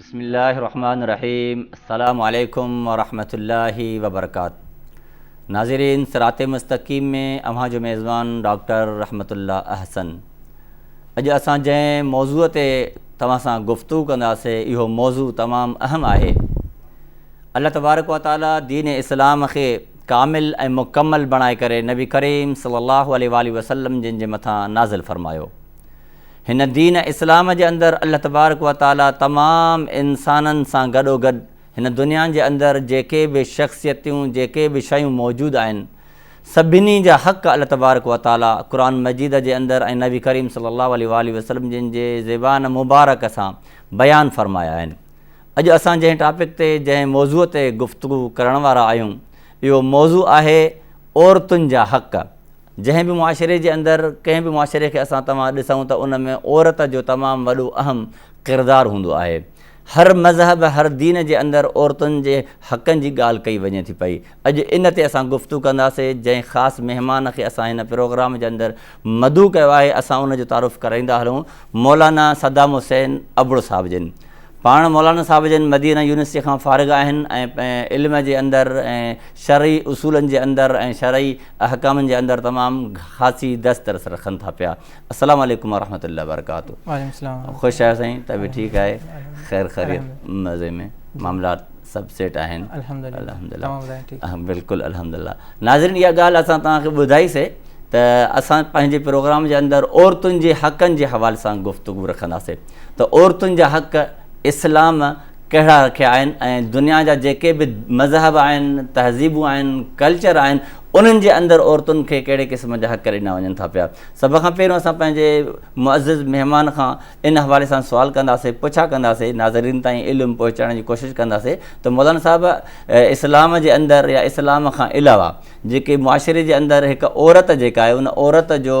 بسم الله الرحمن الرحيم السلام عليكم ورحمة الله وبرڪات ناظرين سرات مستقيم ۾ اوهان جو ميزبان ڊاڪٽر رحمت الله احسن اڄ اسان جنهن موضوع تي توهان سان گفتگو ڪنداسي اهو موضوع تمام اهم آهي الله تبارڪ و تعاليٰ دين اسلام کي ڪامل ۽ مڪمل بڻائي ڪري نبي ڪريم صلي الله عليه وآله وسلم جن جي مٿان نازل فرمايو هن دين اسلام جي اندر الله تبارڪ و تعالي تمام انسانن سان گڏوگڏ هن دنيا جي اندر جيڪي به شخصيتون جيڪي به شيون موجود آهن سڀني جا حق الله تبارڪ و تعالي قرآن مجيد جي اندر ۽ نبي ڪريم صلي الله عليه وآله وسلم جن جي زبان مبارڪ سان بيان فرمايا آهن. اڄ اسان جنهن ٽاپڪ تي جنهن موضوع تي گفتگو ڪرڻ وارا آهيون اهو موضوع آهي عورتن جا حق جنهن به معاشري جي اندر ڪنهن به معاشري کي اسان توهان ڏسون ته ان ۾ عورت جو تمام وڏو اهم ڪردار هوندو آهي. هر مذهب هر دين جي اندر عورتن جي حقن جي ڳالهه ڪئي وڃي ٿي پئي. اڄ ان تي اسان گفتو ڪنداسي جنهن خاص مهمان کي اسان هن پروگرام جي اندر مدعو ڪيو آهي اسان ان جو تعارف ڪرائيندا هلون مولانا صدام حسين ابڙو صاحب جن. پاڻ مولانا صاحب جن مدينه يونيورسٽيء کان فارغ آهن ۽ علم جي اندر ۽ شرعي اصولن جي اندر ۽ شرعي احڪامن جي اندر تمام خاصي دسترس رکن ٿا پيا. السلام عليڪم ورحمة الله وبرڪاته. وعليڪم السلام ورحمة الله. خوش آهيو سائين طبيعت ٺيڪ آهي خير خيريت مزي ۾ معاملات سڀ سيٽ آهن الحمدلله توهان ٻڌايو ٺيڪ آهي بلڪل الحمدلله ناظرين اها ڳالهه اسان توهان کي ٻڌائي سي ته اسان پنهنجي پروگرام جي اندر عورتن جي حقن جي حوالي سان گفتگو رکندا سي. ته عورتن جا حق اسلام ڪهڙا رکيا آهن ۽ دنيا جا جيڪي به مذهب آهن، تهذيبون آهن، ڪلچر آهن انهن جي اندر عورتن کي ڪهڙي قسم جا حق ڏنا وڃن ٿا پيا. سڀ کان پهريون اسان پنهنجي معزز مهمان کان ان حوالي سان سوال ڪنداسين، پڇا ڪنداسين، ناظرين تائين علم پهچائڻ جي ڪوشش ڪنداسين ته مولانا صاحب اسلام جي اندر يا اسلام کان علاوه جيڪي معاشري جي اندر هڪ عورت جيڪا آهي ان عورت جو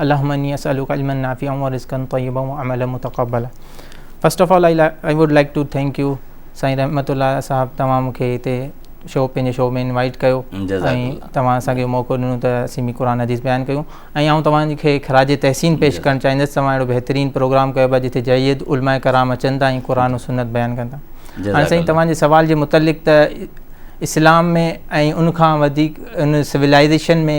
اللهم اني اسالک علما نافعا ورزقا طيبا وعملا متقبلا first of all I would like to thank you Sain Rahmat الله صاحب توهان مون کي هتي شو پنهنجي شو ۾ انوائٽ ڪيو ۽ توهان اسانکي موقعو ڏنو ته اسين به قرآن حديث بيان ڪيون ۽ آئون توهان کي خراج تحسين پيش ڪرڻ چاهيندس توهان اهڙو بهترين پروگرام ڪيو پيا جتي جيد علماء کرام اچن ٿا ۽ قرآن و سنت بيان ڪن ٿا هاڻي سائين توهان جي سوال جي متعلق ته اسلام ۾ ۽ ان کان وڌيڪ ان سولائزيشن ۾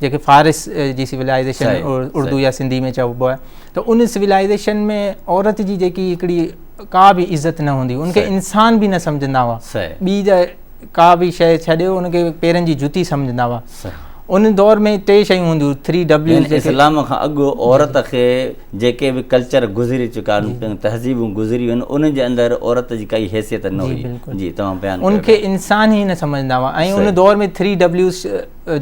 جيڪي فارس جي سولائزيشن اردو يا سنڌي ۾ چئبو آهي ته ان سولائزيشن ۾ عورت جي جيڪي هڪڙي ڪا به عزت نه هوندي ان کي انسان به نه سمجهندا هئا ٻي جا ڪا به شيء ڇڏيو ان کي پيرن جي جتي سمجهندا هئا ان دور ۾ ٽي شيون هونديون ٿري ڊبليو اسلام کان اڳ عورت کي جيڪي به ڪلچر گذري چڪا آهن تهذيبون گذريون آهن ان جي اندر عورت جي ڪائي حيثيت نه هئي جي تمام بيان ان کي انسان ئي نه سمجهندا هئا ۽ ان دور ۾ ٿري ڊبليو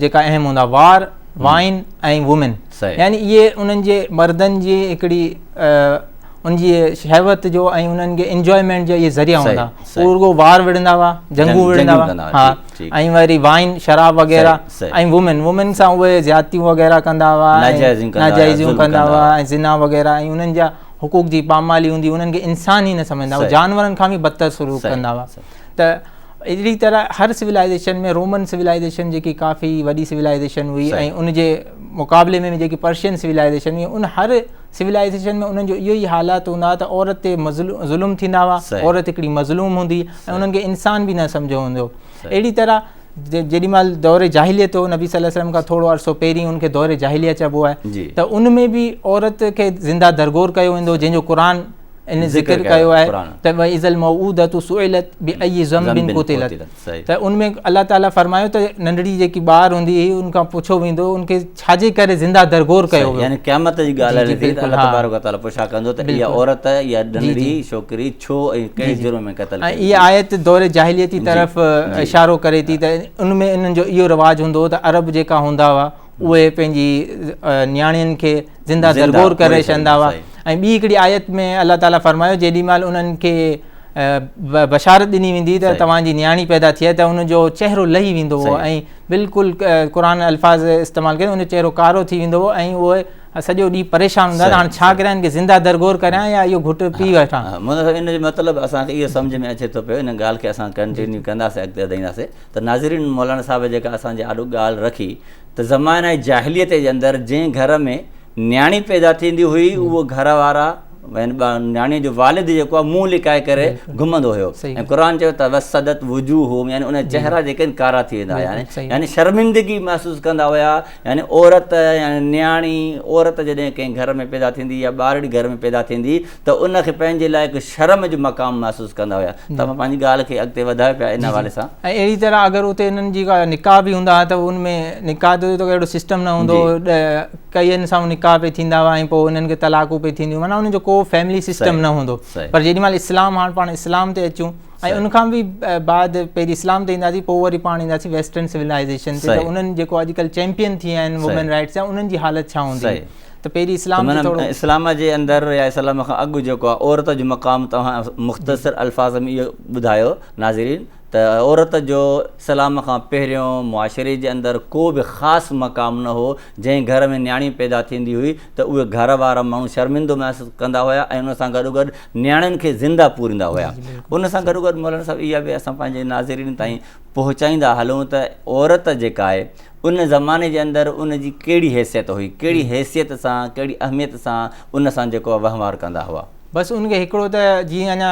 جيڪا اهم هوندا وار، وائن ۽ وومن يعني اهي انهن جي مردن جي هڪڙي ان جي شهوت جو ۽ انهن کي انجوائمينٽ جا اهي ذريعا هوندا هو رڳو وار وڙهندا هئا جنگون وڙهندا هئا ها ۽ وري وائن شراب وغيره ۽ وومن وومن سان اهي زيادتيون وغيره ڪندا هئا ناجائزيون ڪندا هئا ۽ زنا وغيره ۽ انهن جا حقوق جي پامالي هوندي انهن کي انسان ئي نه سمجهندا هئا جانورن کان به بدتر سلوڪ ڪندا هئا ته اهڙي طرح هر سولائيزيشن ۾ رومن سولائيزيشن جيڪي ڪافي وڏي سولائيزيشن هئي ۽ ان جي مقابلي ۾ جيڪي پرشين سولائيزيشن هئي ان هر سولائيزيشن ۾ انهن جو اهو ئي حالات هوندا هئا ته عورت تي ظلم ٿيندا هئا عورت هڪڙي مظلوم هوندي ۽ انهن کي انسان به نه سمجهيو هوندو اهڙي طرح جيڏي مال دور جاهليت هو نبي صلي الله وسلم کان ٿورو عرصو پهرين ان کي دور جاهليت چئبو آهي ته ان ۾ به عورت کي زنده درگور ڪيو ويندو جنهن جو قرآن ان ذڪر ڪيو آهي ته وَإِذَا الْمَوْءُودَةُ سُئِلَتْ بِأَيِّ ذَنْبٍ قُتِلَتْ ته ان ۾ الله تعالٰي فرمايو ته ننڍڙي جيڪي ٻار هوندي هئي ان کان پڇو ويندو ان کي ڇا جي ڪري زنده درگور ڪيو ويو يعني قيامت جي ڳالهه هلي ٿي ته الله تبارڪ و تعالٰي پڇا ڪندو ته اها عورت يا ننڍڙي ڇوڪري ڇو ۽ ڪنهن جرم ۾ قتل ڪئي ۽ اها آيت دور جاهليتي طرف اشارو ڪري ٿي ته ان ۾ انهن جو اهو رواج هوندو هو ته عرب جيڪا هوندا هئا اهي پنهنجي نياڻين کي زنده درگور ڪري ڇڏندا هئا ۽ ٻي هڪڙي آيت ۾ الله تعاليٰ فرمايو جيڏي مهل انهن کي بشارت ڏني ويندي ته توهان جي نياڻي پيدا ٿئي ته ان جو چهرو لهي ويندو هو ۽ بلڪل قرآن الفاظ استعمال ڪري ان جو چهرو ڪارو ٿي ويندو هو ۽ اهي سڄو ڏينهن پريشان هوندا هاڻ ڇا ڪريان هن کي زنده درگور ڪريان يا اهو گهٽ پي وٺان ان جو مطلب اسان کي اهو سمجھ ۾ اچي ٿو پيو ان ڳالهه کي اسان ڪنٽينيو ڪنداسين اڳتي وڌائينداسين ته ناظرين مولانا صاحب جيڪا اسان جي آڏو ڳالهه رکي ته زمانه جاهليت جي اندر جنهن گهر ۾ نياڻي پيدا ٿيندي هئي اهو گهر وارا نياڻي جو والد جيڪو آهي منهن لڪائي ڪري گهمندو هيو ۽ قرآن چيو ته وسدت وجوههم يعني ان چهرا جيڪي آهن ڪارا ٿي ويندا هيا يعني شرمندگي محسوس ڪندا هيا يعني عورت يعني نياڻي عورت جڏهن ڪنهن گهر ۾ پيدا ٿيندي يا ٻارڙي گهر ۾ پيدا ٿيندي ته ان کي پنهنجي لاء هڪ شرم جو مقام محسوس ڪندا هيا توهان پنهنجي ڳالهه کي اڳتي وڌايو پيا ان حوالي سان. ۽ اهڙي طرح اگر اتي انهن جي ڪا نڪاح به هوندا ها ته ان ۾ نڪاح جو ته اهڙو سسٽم نه هوندو هو ڪئين سان نڪاح پئي ٿيندا هئا ۽ پوء انهن کي طلاقون پئي ٿينديون معنيٰ ان جو ڪو فيملي سسٽم نه هوندو پر جيڏي مهل اسلام هاڻ پاڻ اسلام تي اچون ۽ ان کان به بعد پهرين اسلام تي اينداسين پوء وري پاڻ اينداسين ويسٽرن سولائيزيشن تي ته انهن جيڪو اڄ ڪلهه چيمپين ٿي ويا آهن وومين رائٽس جا انهن جي حالت ڇا هوندي ته پيري اسلام جي توڙو اسلام جي اندر يا اسلام کان اڳ جيڪو آهي عورت جو مقام توهان مختصر الفاظ ۾ اهو ٻڌايو ناظرين ته عورت جو اسلام کان پهريون معاشري جي اندر ڪو به خاص مقام نه هو جنهن گهر ۾ نياڻي پيدا ٿيندي هئي ته اهي گهر وارا ماڻهو شرمندو محسوس ڪندا هيا ۽ ان سان گڏو گڏ نياڻين کي زنده پوريندا هيا ان سان گڏو گڏ مولانا صاحب اها به اسان پنهنجي ناظرين تائين پهچائيندا هلون ته عورت جيڪا آهي ان زماني جي اندر ان جي ڪهڙي حيثيت هئي، ڪهڙي حيثيت سان، ڪهڙي اهميت سان ان سان جيڪو وهنوار ڪندا هئا. بس ان کي هڪڙو ته جيئن اڃا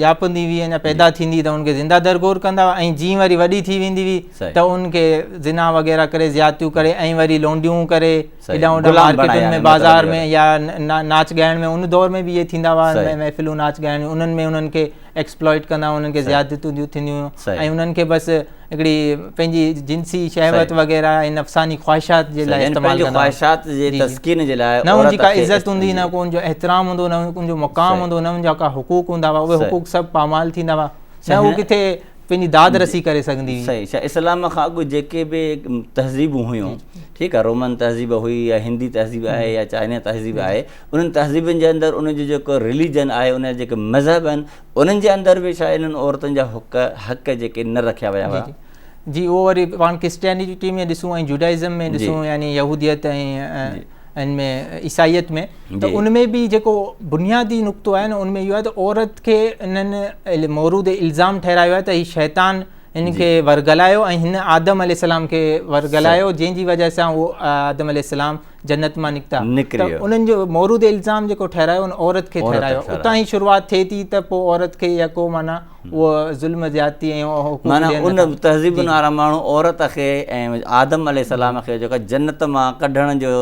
ڄاپندي هئي اڃا پيدا ٿيندي ته ان کي زنده درگور ڪندا هئا ۽ جيئن وري وڏي ٿي ويندي هئي ته ان کي زنا وغيره ڪري زيادتيون ڪري ۽ وري لونڊيون ڪري هيڏانهن هوڏانهن مارڪيٽن ۾ بازار ۾ يا ناچ ڳائڻ ۾ ان دور ۾ به اهي ٿيندا هئا محفلون ناچ ڳائڻ انهن ۾ انهن کي ايڪسپلائيٽ ڪندا هئا انهن کي زيادتون ڏيون ٿينديون هيون ۽ انهن کي بس هڪڙي پنهنجي جنسي شهوت وغيره ۽ نفساني خواهشات جي لاء استعمال ڪندا خواهشات جي تسڪين جي لاء نه ان جي ڪا عزت هوندي نه ڪو ان جو احترام هوندو نه ان جو مقام هوندو نه ان جا ڪا حقوق هوندا هئا اهي حقوق سڀ پامال ٿيندا هئا نه هو ڪٿي پنهنجي داد رسي ڪري سگهندي هئي صحيح اسلام کان اڳ جيڪي به تهذيبون هيون ٺيڪ آهي رومن تهذيب هئي يا هندي تهذيب آهي يا چائنا تهذيب آهي انهن تهذيبن جي اندر ان جو جيڪو رليجن آهي ان جا جيڪي مذهب آهن انهن جي اندر به شايد انهن عورتن جا حق حق جيڪي نه رکيا ويا هئا جي اهو وري پاڻ ڪرسٽيانيٽي ۾ ڏسون ۽ جوڊائزم ۾ ڏسون يعني يهوديت ۽ ان ۾ عيسائيت ۾ ته ان ۾ به جيڪو بنيادي نقطو آهي نه ان ۾ اهو آهي ته عورت کي انهن مورود الزام ٺهرايو آهي ته هي شيطان ان کي ورغلايو ۽ هن آدم عليه السلام کي ورغلايو جنهن جي وجه سان هو آدم عليه السلام جنت مان نڪتا ته انهن جو مورد الزام جيڪو ٺهرايو ان عورت کي ٺهرايو اتان ئي شروعات ٿئي ٿي ته پوء عورت کي يا ڪو معنيٰ اهو ظلم زيادتي ۽ معنيٰ ان تهذيب وارا ماڻهو عورت کي ۽ آدم عليه السلام کي جيڪا جنت مان ڪڍڻ جو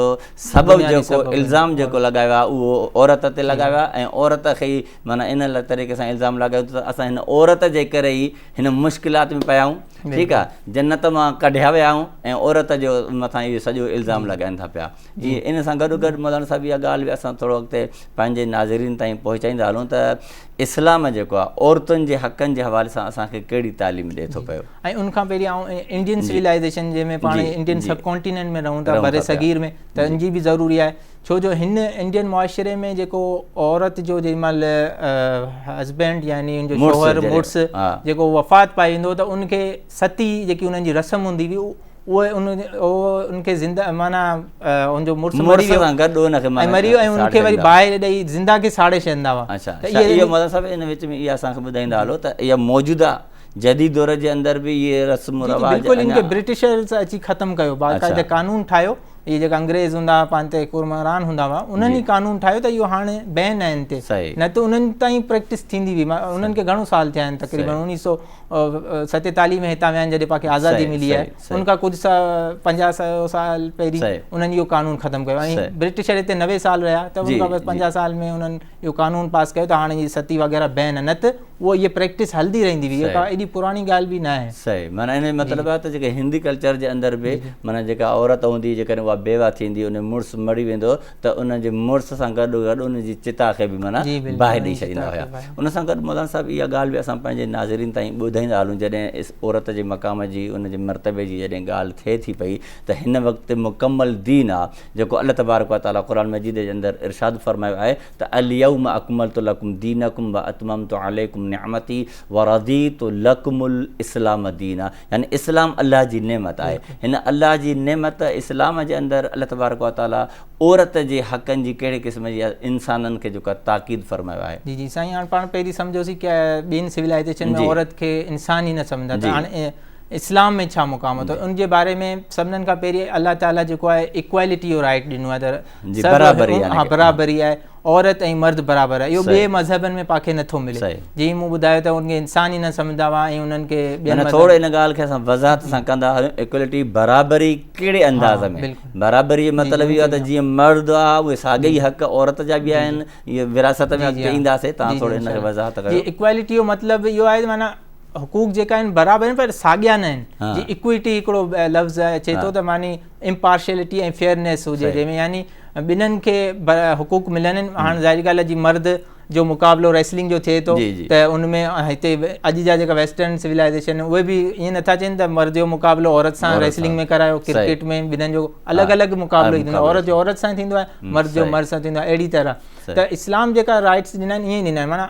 سبب جيڪو الزام جيڪو لڳايو آهي اهو عورت تي لڳايو آهي ۽ عورت کي ئي معنيٰ ان طريقي سان الزام لڳايو ته اسان هن عورت جي ڪري ئي هن مشڪلات ۾ پيا آهيون ٺيڪ آ جنت مان ڪڍيا ويا آهيون ۽ عورت جو مٿان اهو سڄو الزام لڳائين ٿا پيا جي ان سان گڏ گڏ مولانا صاحب اها ڳالهه به اسان ٿورو اڳتي پنهنجي ناظرين تائين پهچائيندا هلون ته اسلام جيڪو آ عورتن جي حقن جي حوالي سان اسان کي ڪهڙي تعليم ڏئي ٿو پيو ۽ ان کان پهرين آئون انڊين سويلائيزيشن جنهن ۾ پاڻ انڊين سب ڪونٽيننٽ ۾ رهون ٿا بر صغير ۾ ته ان جي به ضروري آهي ڇو جو هن انڊين معاشري ۾ جيڪو عورت جو جيڏي مهل هسبينڊ يعني ان جو شوهر مڙس جيڪو وفات پائي ويندو ته ان کي ستي جيڪي انهن جي رسم هوندي هئي اهي ان ان کي زنده معنيٰ ان جو مڙس مري ويو سان گڏ ان کي مري ويو ۽ ان کي وري باهه ڏئي زنده کي ساڙي ڇڏيندا هئا اچا اهو مطلب صاحب ان وچ ۾ اها اسان کي ٻڌائيندا هلو ته اها موجوده جديد دور جي اندر به اهي رسم رواج بلڪل ان کي برٽشرز اچي ختم ڪيو باقاعده قانون ٺاهيو اهي جيڪا انگريز هوندا هئا پنهنجي تي حڪمران هوندا هئا انهن ئي قانون ٺاهيو ته اهو هاڻي بين آهي ان تي نه ته انهن تائين پريڪٽس ٿيندي هئي انهن کي گهڻو سال ٿيا آهن تقريبن انيس سو ستيتاليهه ۾ هتان ويا آهن جڏهن پاڻکي آزادي ملي آهي ان کان ڪجهه سا پنجاهه سو سال پهرين انهن اهو قانون ختم ڪيو ۽ برٽشر هتي نوي سال رهيا ته ان کان پنجاهه سال ۾ انهن اهو قانون پاس ڪيو ته هاڻي جي ستي وغيره بين نه ته اهو اهي پريڪٽس هلندي رهندي هئي اهو ڪا ايڏي پراڻي ڳالهه به نه آهي. صحيح معنيٰ ان جو مطلب آهي ته جيڪا هندي ڪلچر جي اندر به معنيٰ جيڪا عورت هوندي جيڪڏهن اها بيوه ٿيندي ان جو مڙس مري ويندو ته ان جي مڙس سان گڏو گڏ ان جي چتا کي به معنيٰ باهه ڏئي ڇڏيندا هيا ان سان گڏ مولانا صاحب اها ڳالهه به اسان پنهنجي ناظرين تائين ٻڌائيندا هلون جڏهن عورت جي مقام جي ان جي مرتبي جي جڏهن ڳالهه ٿئي ٿي پئي ته هن وقت مڪمل دين آهي جيڪو الله تبارڪ و تعاليٰ قرآن مجيد جي اندر ارشاد فرمايو آهي ته اليوم اڪملت لڪم دينڪم و اتممت عليڪم نعمتي و رضيت لڪم الاسلام دينا يعني اسلام الله جي نعمت آهي هن الله جي نعمت اسلام جي اندر الله تبارڪ و تعاليٰ عورت جي حقن جي ڪهڙي قسم جي انسانن کي جيڪو آهي تاڪيد فرمايو آهي. جي جي سائين هاڻ پاڻ پهرين سمجهيوسي ڪي ٻين سولائيزيشن ۾ عورت کي انسان ئي نه سمجهندا ته هاڻ اسلام ۾ ڇا مقام اٿو ان جي باري ۾ سڀنن کان پهرين الله تعالي جيڪو آهي ايڪوالٽي جو رائيٽ ڏنو آهي ته برابري آهي برابري آهي عورت ۽ مرد برابر آهي اهو ٻئي مذهبن ۾ پاکي نٿو ملي جي مون ٻڌايو ته ان کي انسان ئي نه سمجهندا هئا ۽ انهن کي ٻين ٿوري ان ڳالهه کي اسان وضاحت سان ڪندا هيون ايڪوالٽي برابري ڪهڙي انداز ۾ برابري جو مطلب اهو آهي ته جيئن مرد آهي اهي ساڳئي ئي حق عورت جا به آهن اهي وراثت ۾ اڳتي اينداسي تان ٿوري ان کي وضاحت ڪيو ايڪوالٽي جو مطلب اهو آهي ته معنيٰ حقوق جيڪا آهن برابر آهن پر ساڳيا نه آهن جي اڪويٽي هڪڙو لفظ اچي ٿو ته معني امپارشلٽي ۽ فيئرنيس هجي جنهن ۾ يعني ٻنهن کي حقوق ملن هاڻ ظاهري ڳالهه جي مرد جو مقابلو ريسلنگ جو ٿئي ٿو ته ان ۾ هتي اڄ جا جيڪا ويسٽرن سولائزيشن اهي به ائين نٿا چين ته مرد جو مقابلو عورت سان ريسلنگ ۾ ڪرايو ڪرڪيٽ ۾ ٻنهن جو الڳ الڳ مقابلو ٿيندو آهي عورت جو عورت سان ٿيندو آهي مرد جو مرد سان ٿيندو آهي اهڙي طرح ته اسلام جيڪا رائٽس ڏنا آهن ائين ڏنا آهن معنيٰ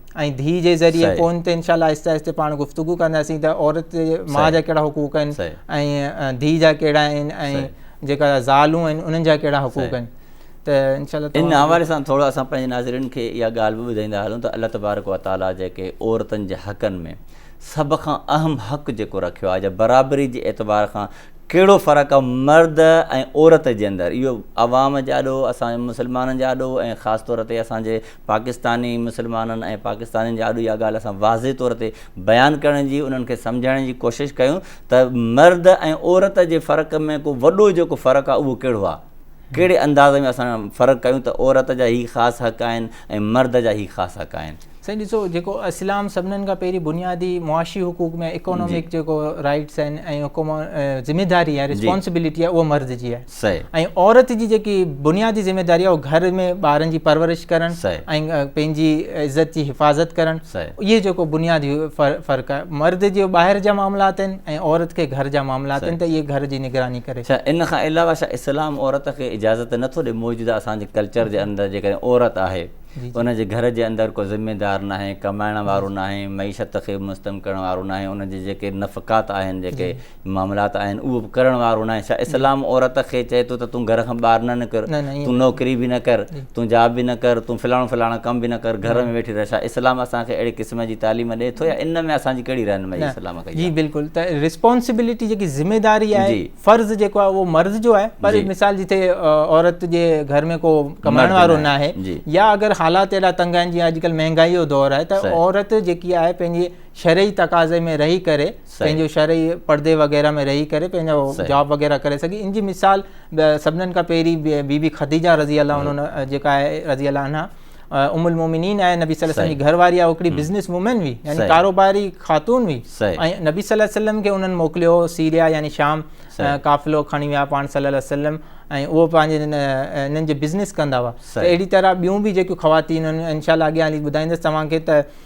۽ ڌي جي ذريعي پوء ان تي انشاء الله آهستي آهستي پاڻ گفتگو ڪنداسين ته عورت جي ماء جا ڪهڙا حقوق آهن ۽ ڌي جا ڪهڙا آهن ۽ جيڪا زالون آهن انهن جا ڪهڙا حقوق آهن ته انشاء الله ان حوالي سان ٿورو اسان پنهنجي ناظرين کي اها ڳالهه به ٻڌائيندا هلون ته الله تبارڪ و تعاليٰ جيڪي عورتن جي حقن ۾ سڀ کان اهم حق جيڪو رکيو آهي جا برابري جي اعتبار کان ڪهڙو فرق آهي مرد ۽ عورت جي اندر اهو عوام جي آڏو اسان مسلمانن جي آڏو ۽ خاص طور تي اسان جي پاڪستاني مسلمانن ۽ پاڪستانين جي آڏو اها ڳالهه اسان واضح طور تي بيان ڪرڻ جي انهن کي سمجهائڻ جي ڪوشش ڪيون ته مرد ۽ عورت جي فرق ۾ ڪو وڏو جيڪو فرق آهي اهو ڪهڙو آهي ڪهڙي انداز ۾ اسان فرق ڪيون ته عورت جا هي خاص حق آهن ۽ مرد جا هي خاص حق آهن. سائين ڏسو جيڪو اسلام سڀنن کان پهرين بنيادي معاشي حقوق ۾ اڪانومڪ جيڪو رائيٽس آهن ۽ ذميداري آهي رسپانسبلٽي آهي اهو مرد جي آهي. سئي. ۽ عورت جي جيڪي بنيادي ذميداري آهي اها گهر ۾ ٻارن جي پرورش ڪرڻ سئي. ۽ پنهنجي عزت جي حفاظت ڪرڻ سئي. اهي جيڪو بنيادي فرق آهي. مرد جي ٻاهر جا معاملات آهن ۽ عورت کي گهر جا معاملات آهن ته اهي گهر جي نگراني ڪري. ڇا ان کان علاوه ڇا اسلام عورت کي اجازت نه ٿو ڏي موجوده اسان جي ڪلچر جي اندر جيڪڏهن عورت آهي ان جي گهر جي اندر ڪو ذميدار ناهي ڪمائڻ وارو ناهي معيشت کي مستحڪم ڪرڻ وارو ناهي ان جي جيڪي نفقات آهن جيڪي معاملات آهن اهو به ڪرڻ وارو ناهي ڇا اسلام عورت کي چئي ٿو ته تون گهر کان ٻاهر نه نڪر تون نوڪري به نه ڪر تون جاب به نه ڪر تون فلاڻو فلاڻا ڪم به نه ڪر گهر ۾ ويٺي رهه ڇا اسلام اسان کي اهڙي قسم جي تعليم ڏئي ٿو يا ان ۾ اسان جي ڪهڙي رهنمائي اسلام ڪئي جي بلڪل ته ريسپانسبلٽي جيڪي ذميداري آهي فرض جيڪو آهي اهو مرض جو آهي پر مثال جتي عورت جي گهر ۾ ڪو ڪمائڻ وارو ناهي يا اگر حالات اهڙا تنگ آهن جيئن اڄڪلهه مهنگائي جو دور آهي ته عورت جيڪي آهي پنهنجي شرعي تقاضي ۾ رهي ڪري پنهنجو شرعي پڙدي وغيره ۾ رهي ڪري پنهنجو جاب وغيره ڪري سگهي ان جي مثال سڀنن کان پهرين بي بي خديجه رضي الله عنها جيڪا آهي رضي الله عنها ام المومنين آهي نبي صلي الله عليه وسلم جي گهر واري آهي هڪڙي بزنس وومين هئي يعني ڪاروباري خاتون هئي ۽ نبي صلي الله عليه وسلم کي انهن موڪليو هو سيريا يعني شام قافلو کڻي ويا پاڻ صلي الله عليه وسلم ۽ اهو پنهنجي انهن جي بزنس ڪندا هئا اهڙي طرح ٻيون به جيڪيون خواتين انشاء الله اڳيان هلي ٻڌائيندس توهان کي ته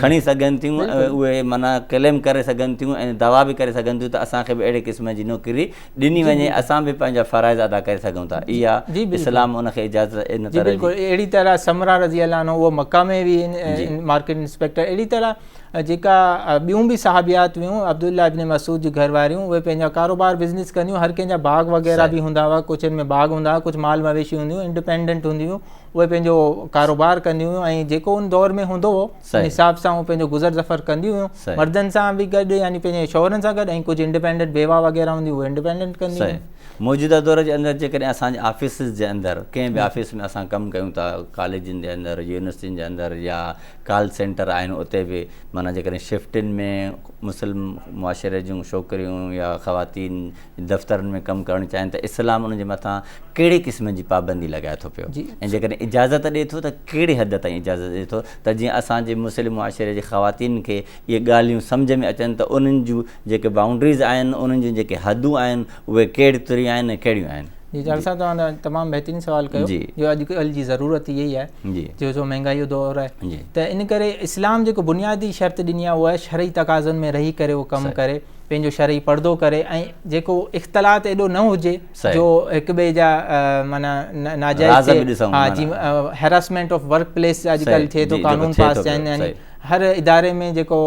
کڻي سگهن ٿيون ۽ اهي معنيٰ ڪليم ڪري سگهن ٿيون ۽ دعويٰ به ڪري سگهن ٿيون ته اسان کي به اهڙي قسم جي نوڪري ڏني وڃي اسان به پنهنجا فرائض ادا ڪري سگهون ٿا اها اسلام ان کي اجازت ان طرح جي اهڙي طرح سمرا رضي الله عنه اهو مڪه ۾ به مارڪيٽ انسپيڪٽر اهڙي طرح جيڪا ٻيون به صحابيات هيون عبدالله ابن مسعود جي گهر واريون اهي پنهنجا ڪاروبار بزنس ڪنديون هر ڪنهن جا باغ وغيره به هوندا هئا ڪجهن ۾ باغ هوندا هئا ڪجهه مال مويشي هونديون انڊپينڊنٽ هونديون اهي پنهنجو ڪاروبار ڪنديون هيون ۽ جيڪو ان دور ۾ هوندو هو ان حساب سان هو پنهنجو گذر سفر ڪنديون هيون مردن سان به گڏ يعني پنهنجي شوهرن سان گڏ ۽ ڪجهه انڊيپينڊنٽ بيوا وغيره هونديون هيون انڊيپينڊنٽ ڪنديون هيون موجوده دور جي اندر جيڪڏهن اسان جي آفيسز جي اندر ڪنهن به آفيس ۾ اسان ڪم ڪيون ٿا ڪاليجن جي اندر يونيورسٽين جي اندر يا ڪال سينٽر آهن اتي به معنيٰ جيڪڏهن شفٽن ۾ مسلم معاشري جون شوڪريون يا خواتين دفترن ۾ ڪم ڪرڻ چاهين ته اسلام ان جي مٿان ڪهڙي قسم جي پابندي لڳائي ٿو پيو ۽ جيڪڏهن اجازت ڏئي ٿو ته ڪهڙي حد تائين اجازت ڏئي ٿو ته جيئن اسان جي مسلم معاشري جي خواتين کي اهي ڳالهيون سمجهه ۾ اچن ته انهن جون جيڪي بائونڊريز آهن انهن جون جيڪي حدون آهن اهي ڪهڙي طرح آهن ۽ ڪهڙيون آهن. جي جال صاحب توهان تمام بهترين سوال ڪيو جو اڄ ڪلهه جي ضرورت اها ئي آهي جو جو مهنگائي جو دور آهي ته ان ڪري اسلام جيڪو بنيادي شرط ڏني آهي اها شرعي تقاضن ۾ رهي ڪري اهو ڪم ڪري پنهنجو شرعي پڙدو ڪري ۽ جيڪو اختلاط ايڏو نه هجي جو هڪ ٻئي جا معنيٰ ناجائز هيراسمينٽ آف ورڪ پليس اڄ ڪلهه ٿئي ٿو قانون پاس ٿيا آهن يعني هر اداري ۾ جيڪو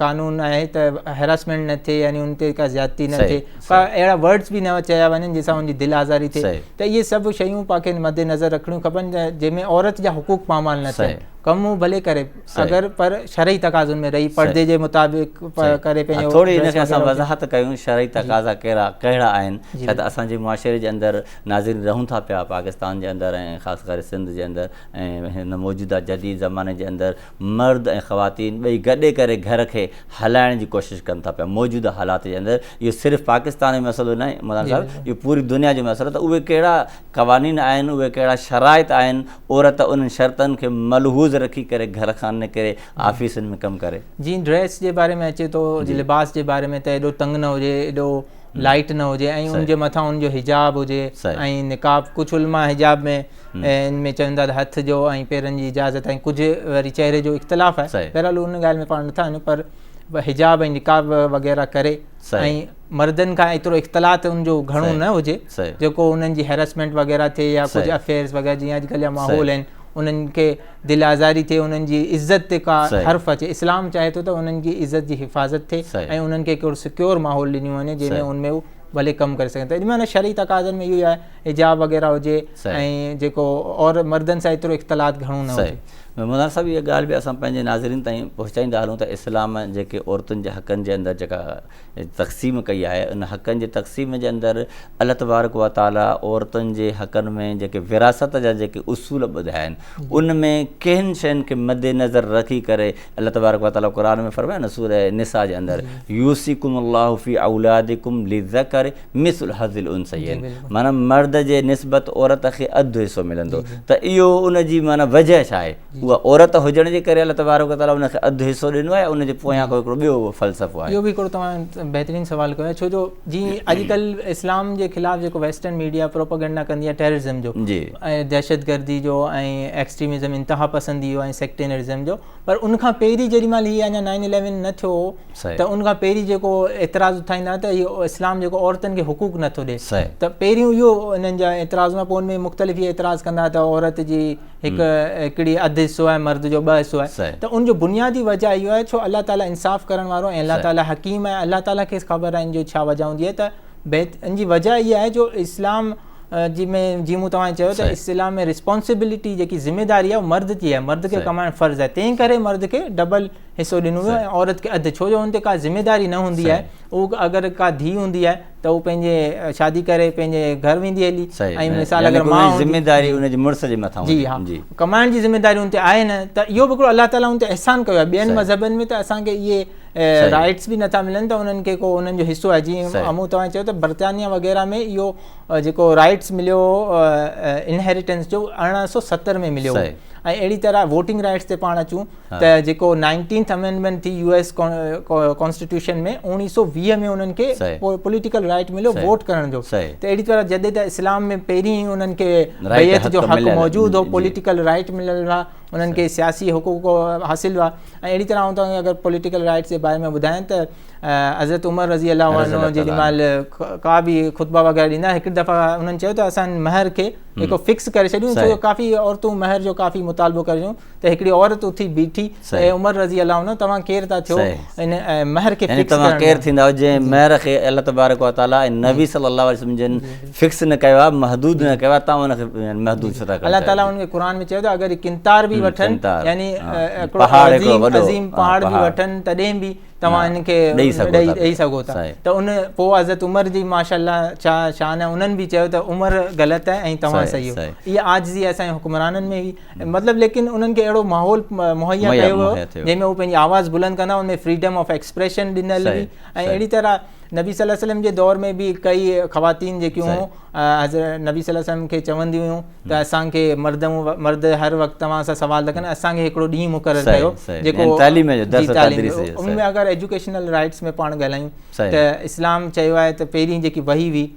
قانون آهي ته هيراسمينٽ نه ٿئي يعني ان تي ڪا زيادتي نه ٿئي ڪا اهڙا ورڊس به نه چيا وڃن جنهن سان ان جي دل آزاري ٿئي ته اهي سڀ شيون پاڻ کي مد نظر رکڻيون کپن جنهن ۾ عورت جا حقوق پامال نه ٿين ڪم هو ڀلي ڪري اگر پر شرعي تقاضن ۾ رهي پردي جي مطابق ڪري پنهنجو ٿوري ان کي اسان وضاحت ڪيون شرعي تقاضا ڪهڙا ڪهڙا آهن ڇا ته اسان جي معاشري جي اندر ناظرين رهون ٿا پيا پاڪستان جي اندر ۽ خاص ڪري سنڌ جي اندر ۽ هن موجوده جديد زماني جي اندر مرد ۽ خواتين ٻئي گڏي ڪري گهر کي هلائڻ جي ڪوشش ڪن ٿا پيا موجوده حالات جي اندر اهو صرف پاڪستان جو مسئلو ناهي مولانا صاحب اهو پوري دنيا جو مسئلو ته اهي ڪهڙا قوانين آهن اهي ڪهڙا شرائط آهن عورت انهن شرطن کي ملحوظ رکي ڪري گهر کان نڪري آفيسن ۾ ڪم ڪري. جي ڊريس جي باري ۾ اچي ٿو جي لباس جي باري ۾ ته ايڏو تنگ نه هجي ايڏو لائيٽ نه هجي ۽ ان جي مٿان ان جو حجاب هجي ۽ نقاب ڪجهه علماء حجاب ۾ ان ۾ چون ٿا ته هٿ جو ۽ پيرن جي اجازت ۽ ڪجهه وري چهري جو اختلاف آهي بهرحال ان ڳالهه ۾ پاڻ نٿا وڃون پر حجاب ۽ نقاب وغيره ڪري ۽ مردن کان ايترو اختلاط ان جو گهڻو نه هجي جيڪو انهن جي هيرسمينٽ وغيره ٿئي يا ڪجهه افيئرز وغيره جيئن اڄ ڪلهه جا ماحول آهن انهن کي دل آزاري ٿئي انهن جي عزت تي ڪا حرف اچي اسلام چاهي ٿو ته انهن جي عزت جي حفاظت ٿئي ۽ انهن کي ڪهڙو سڪيور ماحول ڏنو وڃي جنهن ۾ ان ۾ ڀلي ڪم ڪري سگهن ته ان معنيٰ شرعي تقاضن ۾ اهو ئي آهي حجاب وغيره هجي ۽ جيڪو اور مردن سان ايترو اختلاط گهڻو نه هجي مولانا صاحب اها ڳالهه به اسان پنهنجي ناظرين تائين پهچائيندا هلون ته اسلام جيڪي عورتن جي حقن جي اندر جيڪا تقسيم ڪئي آهي ان حقن جي تقسيم جي اندر الله تبارڪ و تعالي عورتن جي حقن ۾ جيڪي وراثت جا جيڪي اصول ٻڌايا آهن ان ۾ ڪن شين کي مد نظر رکي ڪري الله تبارڪ و تعالي قرآن ۾ فرمايو نه سوره نساء جي اندر يوسيڪم الله في اولادكم للذكر مثل حظ الانثيين معنی مرد جي نسبت عورت کي اڌ حصو ملندو ته اهو ان جي معنی وجه ڇا آهي اها عورت هجڻ جي ڪري الله تبارڪ تعاليٰ ان کي اڌ حصو ڏنو آهي ان جي پويان ڪو هڪڙو ٻيو فلسفو آهي. اهو به هڪڙو توهان بهترين سوال ڪيو آهي ڇو جو جي اڄڪلهه اسلام جي خلاف جيڪو ويسٽرن ميڊيا پروپيگنڊا ڪندي آهي ٽيررزم جو ۽ دهشت گردي جو ۽ ايڪسٽريمزم انتها پسندي جو ۽ سيڪٽينرزم جو پر ان کان پهرين جيڏي مهل هي اڃا نائن اليون نه ٿيو هو ته ان کان پهرين جيڪو اعتراض اٿائيندا ته هي اسلام جيڪو عورتن کي حقوق نٿو ڏي ته پهريون اهو انهن جا اعتراض هئا پوء ان ۾ مختلف اعتراض ڪندا ته عورت جي هڪ هڪڙي اڌ حصو آهي مرد جو ٻه حصو آهي ته ان جو بنيادي وجه اهو آهي ڇو الله تعالي انصاف ڪرڻ وارو ۽ الله تعالي حڪيم آهي الله تعالي کي خبر آهي ان جو ڇا وجه هوندي آهي ته بهت ان جي وجه اها آهي جو اسلام جي ۾ جي مون توهان چيو ته اسلام ۾ رسپانسبلٽي جيڪي ذميداري آهي مرد جي آهي مرد کي ڪمائڻ فرض آهي تنهن ڪري مرد کي ڊبل حصو ڏنو ويو ۽ عورت کي اڌ ڇو جو ان تي ڪا ذميواري نه هوندي آهي هو اگر ڪا ڌي هوندي آهي ته هو پنهنجي شادي ڪري پنهنجي گهر ويندي هلي ۽ مثال اگر مان هوندي ذميواري ان جي مڙس جي مٿان هوندي جي ها ڪمائڻ جي ذميواري ان تي آهي نه ته اهو به هڪڙو الله تعالي ان تي احسان ڪيو آهي ٻين مذهبن ۾ ته اسان کي اهي رائٽس به نٿا ملن ته انهن کي ڪو انهن جو حصو آهي جيئن امو توهان چيو ته برطانيا وغيره ۾ اهو جيڪو رائٽس مليو انهيريٽنس جو ارڙهن سو ستر ۾ مليو ۽ اهڙي طرح ووٽنگ رائٽس تي پاڻ اچون ته جيڪو نائنٽينٿ امينڊمينٽ ٿي يو ايس ڪانسٽيٽيوشن ۾ اوڻيهه سؤ ويهه ۾ انهن کي پوليٽيڪل رائٽ مليو ووٽ ڪرڻ جو ته اهڙي طرح جڏهن ته اسلام ۾ پهرين ئي انهن کي بيعت جو حق موجود هو پوليٽيڪل رائٽ مليل هئا انهن کي سياسي حقوق حاصل هئا ۽ اهڙي طرح آئون توهان کي اگر پوليٽيڪل رائٽس جي باري ۾ ٻڌايان ته حضرت عمر رضي الله عنه جي مال ڪا به خطبا وغيره ڏيندا هڪ دفعا انهن چيو ته اسان مهر کي هڪ فڪس ڪري ڇڏيون ڇو جو ڪافي عورتون مهر جو ڪافي مطالبو ڪريون ته هڪڙي عورت اٿي بيٺي اي عمر رضي الله عنه توهان ڪير ٿا ٿيو ان مهر کي فڪس ڪرڻ ڪير ٿيندا جنهن مهر کي الله تبارڪ و تعالي ۽ نبي صلي الله عليه وسلم جن فڪس نه ڪيو آهي محدود نه ڪيو آهي تان ان کي محدود ڇو ٿا ڪيو الله تعالي ان کي قرآن ۾ چيو ته اگر قنطار به وٺن يعني پهاڙ جو وڏو عظيم پهاڙ به وٺن تڏهن به توهان ان کي ڏئي سگهو ٿا ته ان پوء حضرت عمر جي ماشاءالله شان انهن به چيو ته عمر غلط آهي ۽ توهان صحيح اها عاجزي اسان جي حڪمرانن ۾ هئي مطلب ليڪن انهن کي اهڙو ماحول مهيا ڪيو ويو جنهن ۾ هو پنهنجي آواز بلند ڪندا ان ۾ فريڊم آف ايڪسپريشن ڏنل هئي ۽ اهڙي طرح نبي صلي الله وسلم جي دور ۾ به ڪئي خواتين جيڪيون هيون حضرت نبي صلي الله وسلم کي چونديون هيون ته اسانکي مرد مرد هر وقت توهان سان سوال رکن اسانکي هڪڙو ڏينهن مقرر ڪيو جيڪو يعني تعليم جو درس تدريس جي ان ۾ اگر ايجوڪيشنل رائيٽس ۾ پاڻ ڳالهايون ته اسلام چيو آهي ته پهرين جيڪي وحي هئي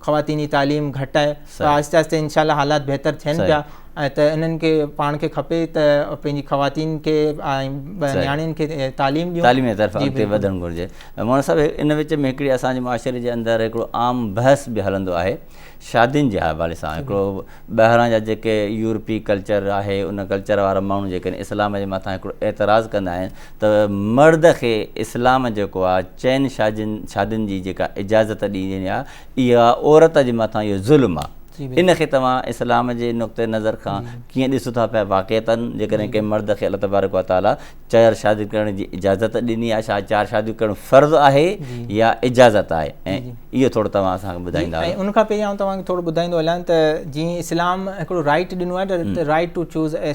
خواتين جي تعليم گهٽ آهي پر آهستي آهستي انشاء الله حالات بهتر ٿين پيا ۽ ته انهن کي پاڻ کي کپي ته پنهنجي خواتين کي ۽ نياڻين کي تعليم ڏيون تعليم جي طرف اڳتي وڌڻ گهرجي مولانا صاحب ان وچ ۾ هڪڙي اسان جي معاشري جي اندر هڪڙو عام بحث به هلندو آهي شادين جي حوالي سان هڪڙو ٻاهران جا جيڪي يورپي ڪلچر آهي ان ڪلچر وارا ماڻهو جيڪڏهن اسلام جي مٿان هڪڙو اعتراض ڪندا آهن ته مرد کي اسلام جيڪو آ چئن شادين جي جيڪا اجازت ڏيني آ اها عورت جي مٿان اهو ظلم آ ان کي توهان اسلام جي نقطه نظر کان ڪيئن ڏسو ٿا پيا واقعتا جيڪڏهن ڪنهن مرد کي الله تبارڪ و تعالي چار شاديون ڪرڻ جي اجازت ڏني آ ڇا چار شاديون ڪرڻ فرض آهي يا اجازت آهي ۽ اهو ٿورو توهان اسان کي ٻڌائيندا ۽ ان کان پهرين آئون توهان کي ٿورو ٻڌائيندو هلان ته جيئن اسلام هڪڙو رائيٽ ڏنو آهي ته رائيٽ ٽو چوز اي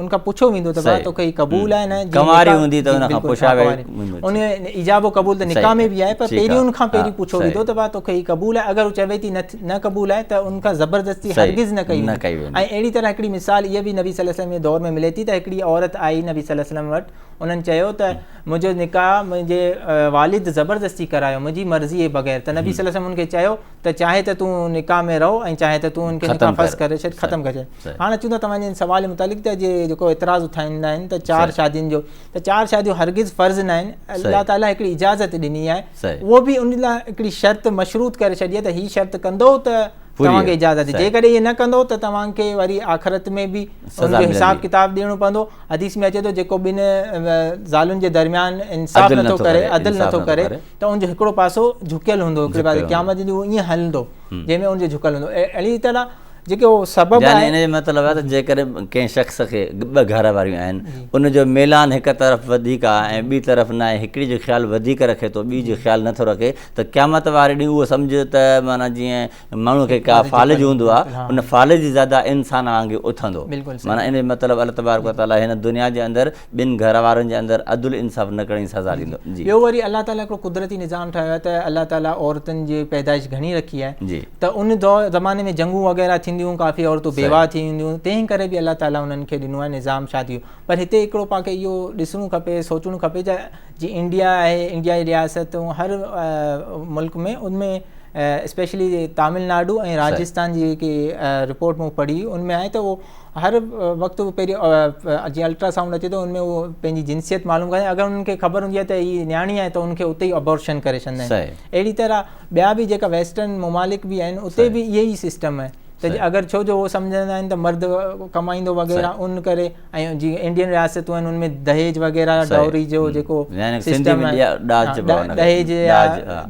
ان کان پڇو ويندو ته بابا توکي هي قبول آهي نه ڪنواري هوندي ته ان کان پڇا ويندو ان ايجاب قبول ته نڪاح ۾ به آهي پر پهرين ان کان پهرين پڇو ويندو ته بابا توکي هي قبول آهي اگر هو چوي ٿي نه قبول آهي ته ان کان زبردستي هرگز نه ڪئي ويندي ۽ اهڙي طرح هڪڙي مثال هيء به نبي صلي الله عليه وسلم جي دور ۾ ملي ٿي ته هڪڙي عورت آئي نبي صلي الله عليه وسلم وٽ انهن چيو ته منهنجو نڪاح منهنجي والد زبردستي ڪرايو منهنجي مرضيء بغير ته نبي صلي الله عليه وسلم ان کي چيو ته چاهي ته تون نڪاح ۾ رهو ۽ چاهي ته تون ان کي نڪاح فسخ ڪري ڇڏ ختم ڪري ڇڏ هاڻ اچون ٿا توهان جي سوال متعلق ته جي جيڪو اعتراض اٿائيندا آهن ته چار شادين جو ته چار شاديون هرگز فرض نه آهن الله تعالي هڪڙي اجازت ڏني آهي اهو به ان لاء هڪڙي شرط مشروط ڪري ڇڏي آهي ته هي شرط ڪندو ته توهان کي اجازت جيڪڏهن هي نه ڪندو ته توهان کي وري آخرت ۾ به ان جو حساب ڪتاب ڏيڻو پوندو حديث ۾ اچي ٿو جيڪو ٻن زالن جي درميان انصاف نٿو ڪري عدل نٿو ڪري ته ان جو هڪڙو پاسو جهڪيل هوندو هڪڙي پاسي قيامت جي ڏينهن ايئن هلندو جنهن ۾ ان جو جهڪيل هوندو اهڙي طرح جيڪي هو سبب يعني ان جو مطلب آهي ته جيڪڏهن ڪنهن شخص کي ٻه گهر واريون آهن ان جو ميلان هڪ طرف وڌيڪ آهي ۽ ٻي طرف نه آهي هڪڙي جو خيال وڌيڪ رکي ٿو ٻي جو خيال نٿو رکي ته قيامت واري ڏينهن اهو سمجهه ته معنيٰ جيئن ماڻهو کي ڪا فالج هوندو آهي ان فالج جي زياده انسان وانگي اٿندو معنيٰ ان جو مطلب الله تبارڪ و تعالٰي هن دنيا جي اندر ٻن گهر وارن جي اندر عدل انصاف نه ڪرڻ جي سزا ڏيندو ٻيو وري الله تعالٰي هڪڙو قدرتي نظام ٺاهيو آهي ته الله تعالٰي عورتن جي پيدائش گهڻي رکي آهي ته ان دور زماني ۾ جنگون وغيره ٿينديون هيون ڪافي عورتون بيواهه ٿي وينديون هيون تنهن ڪري به الله تعالٰي انهن کي ڏنو آهي نظام شادي جو پر هتي هڪڙو پاڻ کي اهو ڏسڻو کپي سوچڻو کپي جي انڊيا آهي انڊيا جي رياستون هر ملڪ ۾ ان ۾ اسپيشلي تامل ناڊو ۽ راجستان جي جيڪي رپورٽ مون پڙهي ان ۾ آئي ته هو هر وقت پهرين جي الٽرا سائونڊ اچي ٿو ان ۾ هو پنهنجي جنسيت معلوم ڪري اگر انهن کي خبر هوندي آهي ته هي نياڻي آهي ته ان کي اتي ئي ابورشن ڪري ڇڏندا آهن اهڙي طرح ٻيا به جيڪا ويسٽرن ممالڪ به آهن اتي به اهي ئي سسٽم آهي ته اگر ڇو جو هو سمجهندا آهن ته مرد ڪمائيندو وغيره ان ڪري ۽ جي انڊين رياستون آهن ان ۾ دهيج وغيره ڊوري جو جيڪو سسٽم آهي دهيج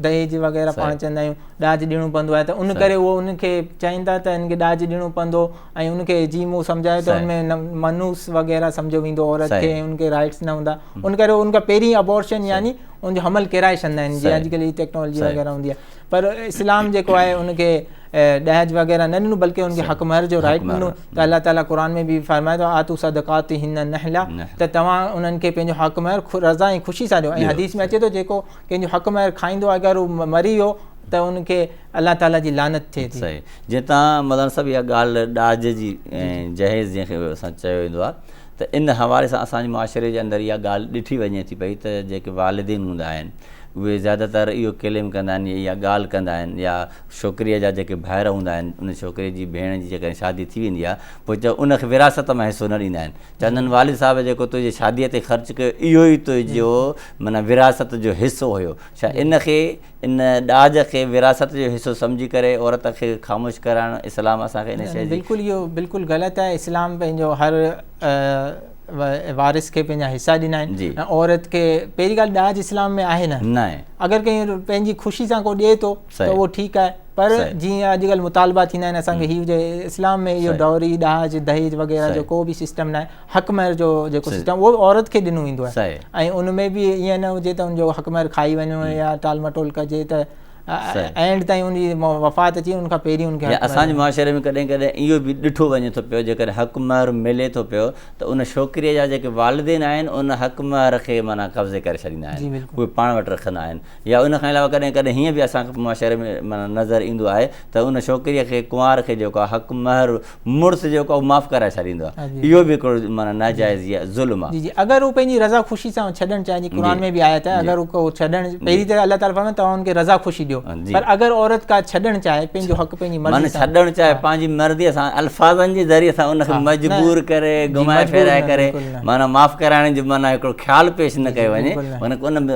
دهيج وغيره پاڻ چوندا آهيون ڏاج ڏيڻو پوندو آهي ته ان ڪري هو ان کي چائين ٿا ته ان کي ڏاج ڏيڻو پوندو ۽ ان کي جي مون سمجهايو ته ان ۾ منوس وغيره سمجهو ويندو عورت کي ان کي رائٽس نه هوندا ان ڪري ان کان پهرين ابورشن يعني ان جو حمل ڪيرائي ڇڏندا آهن جي اڄڪلهه جي ٽيڪنالاجي وغيره هوندي آهي پر اسلام جيڪو آهي ان کي ڏهج وغيره نه ڏنو بلڪه ان کي حق مهر جو رائٽ ڏنو ته الله تعالي قرآن ۾ به فرمائي ٿو آتو صدقاتهن نحلا ته توهان انهن کي پنهنجو حق مهر رضا ۽ خوشي سان ڏيو ۽ حديث ۾ اچي ٿو جيڪو ڪنهن جو حق مهر کائيندو آهي اگر هو مري ويو ته ان کي الله تعالي جي لعنت ٿئي ٿي صحيح جي تان مدان صاحب يا گال ڏاج جي جهيز جنهن کي اسان چيو ويندو آهي ته ان حوالي سان اسان جي معاشري جي اندر يا گال ڏٺي وڃي ٿي پئي ته جيڪي والدين هوندا آهن اهي زياده تر اهو ڪليم ڪندا آهن يا گال ڪندا آهن يا ڇوڪريء جا جيڪي ڀائر هوندا آهن، ان ڇوڪريء جي ڀيڻ جي جيڪڏهن شادي ٿي ويندي آهي، پوء چئو ان کي وراثت مان حصو نه ڏيندا آهن. چوندا آهن والد صاحب جيڪو تنهنجي شاديء تي خرچ ڪيو، اهو ئي تنهنجو معنيٰ وراثت جو حصو هيو. ڇا ان کي، ان ڏاج کي وراثت جو حصو سمجهي ڪري عورت کي خاموش ڪرائڻ، اسلام اسان کي ان شيء جي. بلڪل اهو بلڪل غلط آهي. اسلام پنهنجو هر. وارث کي پنهنجا حصا ڏنا آهن ۽ عورت کي پهرين ڳالهه ڏاج اسلام ۾ آهي نه اگر ڪنهن پنهنجي خوشي سان ڪو ڏئي ٿو ته اهو ٺيڪ آهي پر جيئن اڄڪلهه مطالبا ٿيندا آهن اسان کي هي هجي اسلام ۾ اهو ڊوري ڏاج دهيج وغيره جو ڪو به سسٽم ناهي حق مهر جو جيڪو سسٽم اهو عورت کي ڏنو ويندو آهي ۽ ان ۾ به ائين نه هجي ته ان جو حق مهر کائي وڃو يا ٽال مٽول ڪجي ته اينڊ تائين ان جي وفات اچي ان کان پهرين ان کي حق اسان جي معاشري ۾ ڪڏهن ڪڏهن اهو به ڏٺو وڃي ٿو پيو جيڪڏهن حق مهر ملي ٿو پيو ته ان شوڪري جا جيڪي والدين آهن ان حق مهر کي معنيٰ قبضي ڪري ڇڏيندا آهن اهي پاڻ وٽ رکندا آهن يا ان کان علاوه ڪڏهن ڪڏهن هيئن به اسان کي معاشري ۾ معنيٰ نظر ايندو آهي ته ان شوڪري کي ڪنوار کي جيڪو حق مهر مڙس جيڪو آهي اهو معاف ڪرائي ڇڏيندو آهي اهو به هڪڙو معنيٰ ناجائز يا ظلم آهي جي جي اگر هو پنهنجي رضا خوشي سان ڇڏڻ چاهي جي قرآن ۾ به آيت آهي اگر هو ڇڏڻ پهرين ته الله تعالي فرمائي ٿو توهان ان کي رضا خوشي ڏيو پر اگر عورت ڪا ڇڏڻ چاهي پنهنجو حق پنهنجي مرضي معنيٰ سان ڇڏڻ چاهي پنهنجي مرضي سان الفاظن جي ذريعي سان ان کي مجبور ڪري گهمائي ڦيرائي ڪري معنيٰ معاف ڪرائڻ جو معنيٰ هڪڙو خيال پيش نه ڪيو وڃي ان ان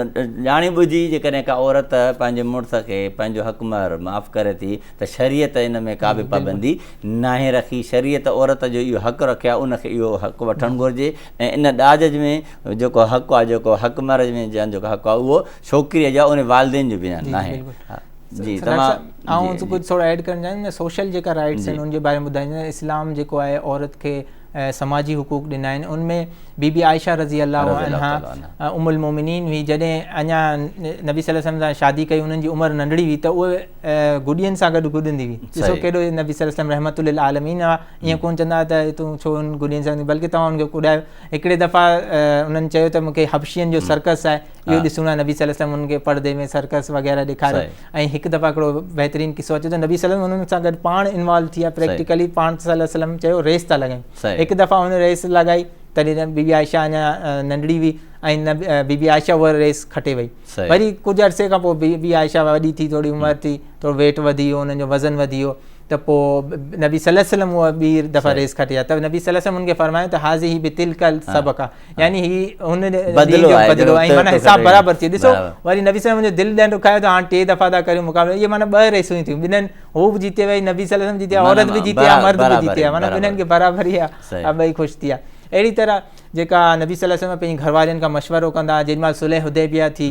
ڄاڻي ٻجهي جيڪڏهن ڪا عورت پنهنجي مڙس کي پنهنجو حق مهر معاف ڪري ٿي ته شريعت ان ۾ ڪا به پابندي ناهي رکي، شريعت عورت جو اهو حق رکيو آهي ان کي اهو حق وٺڻ گهرجي ۽ ان ڏاج ۾ جيڪو حق آهي جيڪو حق مئريج ۾ جنهن جو حق آهي اهو ڇوڪريء جو آهي ان والدين جو بنيان ناهي. جي تمام آئون ڪجهه ٿورو ايڊ ڪرڻ چاهيندس ۽ سوشل جيڪا رائيٽس آهن ان جي باري ۾ ٻڌائيندس ۽ اسلام جيڪو آهي عورت کي سماجي حقوق ڏنا آهن ان ۾ بي بي عائشه رضي الله عنها ام المومنين هئي جڏهن اڃا نبي صلي الله عليه وسلم سان شادي ڪئي انهن جي عمر ننڍڙي هئي ته اهي گڏين سان گڏ گڏندي هئي ڏسو ڪيڏو نبي صلي الله عليه وسلم رحمت للعالمين آ ائين ڪون چوندا ته تون ڇو ان گڏين سان بلڪه توهان ان کي ڪڏايو هڪڙي دفعه انهن چيو ته مونکي حبشين جو سرڪس آهي اهو ڏسڻو آهي نبي صلي الله عليه وسلم ان کي پردي ۾ سرڪس وغيرا ڏيکاريو ۽ هڪ دفعه هڪڙو بهترين قصو اچي ته نبي صلي الله عليه وسلم انهن سان گڏ پاڻ انوالو ٿي ويا پريڪٽيڪلي پاڻ صلي الله عليه وسلم چيو ريس ٿا لڳائين هڪ دفعه هن ريس لڳائي تڏهن بيبي عائشه اڃا ننڍڙي هئي ۽ بيبي عائشه هوء ريس کٽي وئي وري ڪجهه عرصي کان پوء بي بي عائشه وڏي ٿي ٿوري عمر ٿي ٿورو ويٽ وڌي ويو انهن جو وزن وڌي ويو ته پوء نبي صلي وسلم هو ٻي دفعه ريس کٽي آ ته نبي صلي وسلم ان کي فرمايو ته حاضي هي به تلڪل سبق آ يعني هي هن بدلو آ بدلو آ معنی حساب برابر ٿي ڏسو وري نبي صلي وسلم جو دل ڏنڊ کايو ته هاڻ ٽي دفعه ٿا ڪريو مقابلو اهي معنی ٻه ريسون ٿيون ٻنهن هو به جيتي وئي نبي صلي وسلم جيتي عورت به جيتي آ مرد به جيتي آ معنی ٻنهن کي برابر هي آ ابئي خوش ٿي آ اهڙي طرح جيڪا نبي صلي الله عليه وسلم پنهنجي گهر وارين کان مشورو ڪندا جيڏي مهل صلح حديبيه ٿي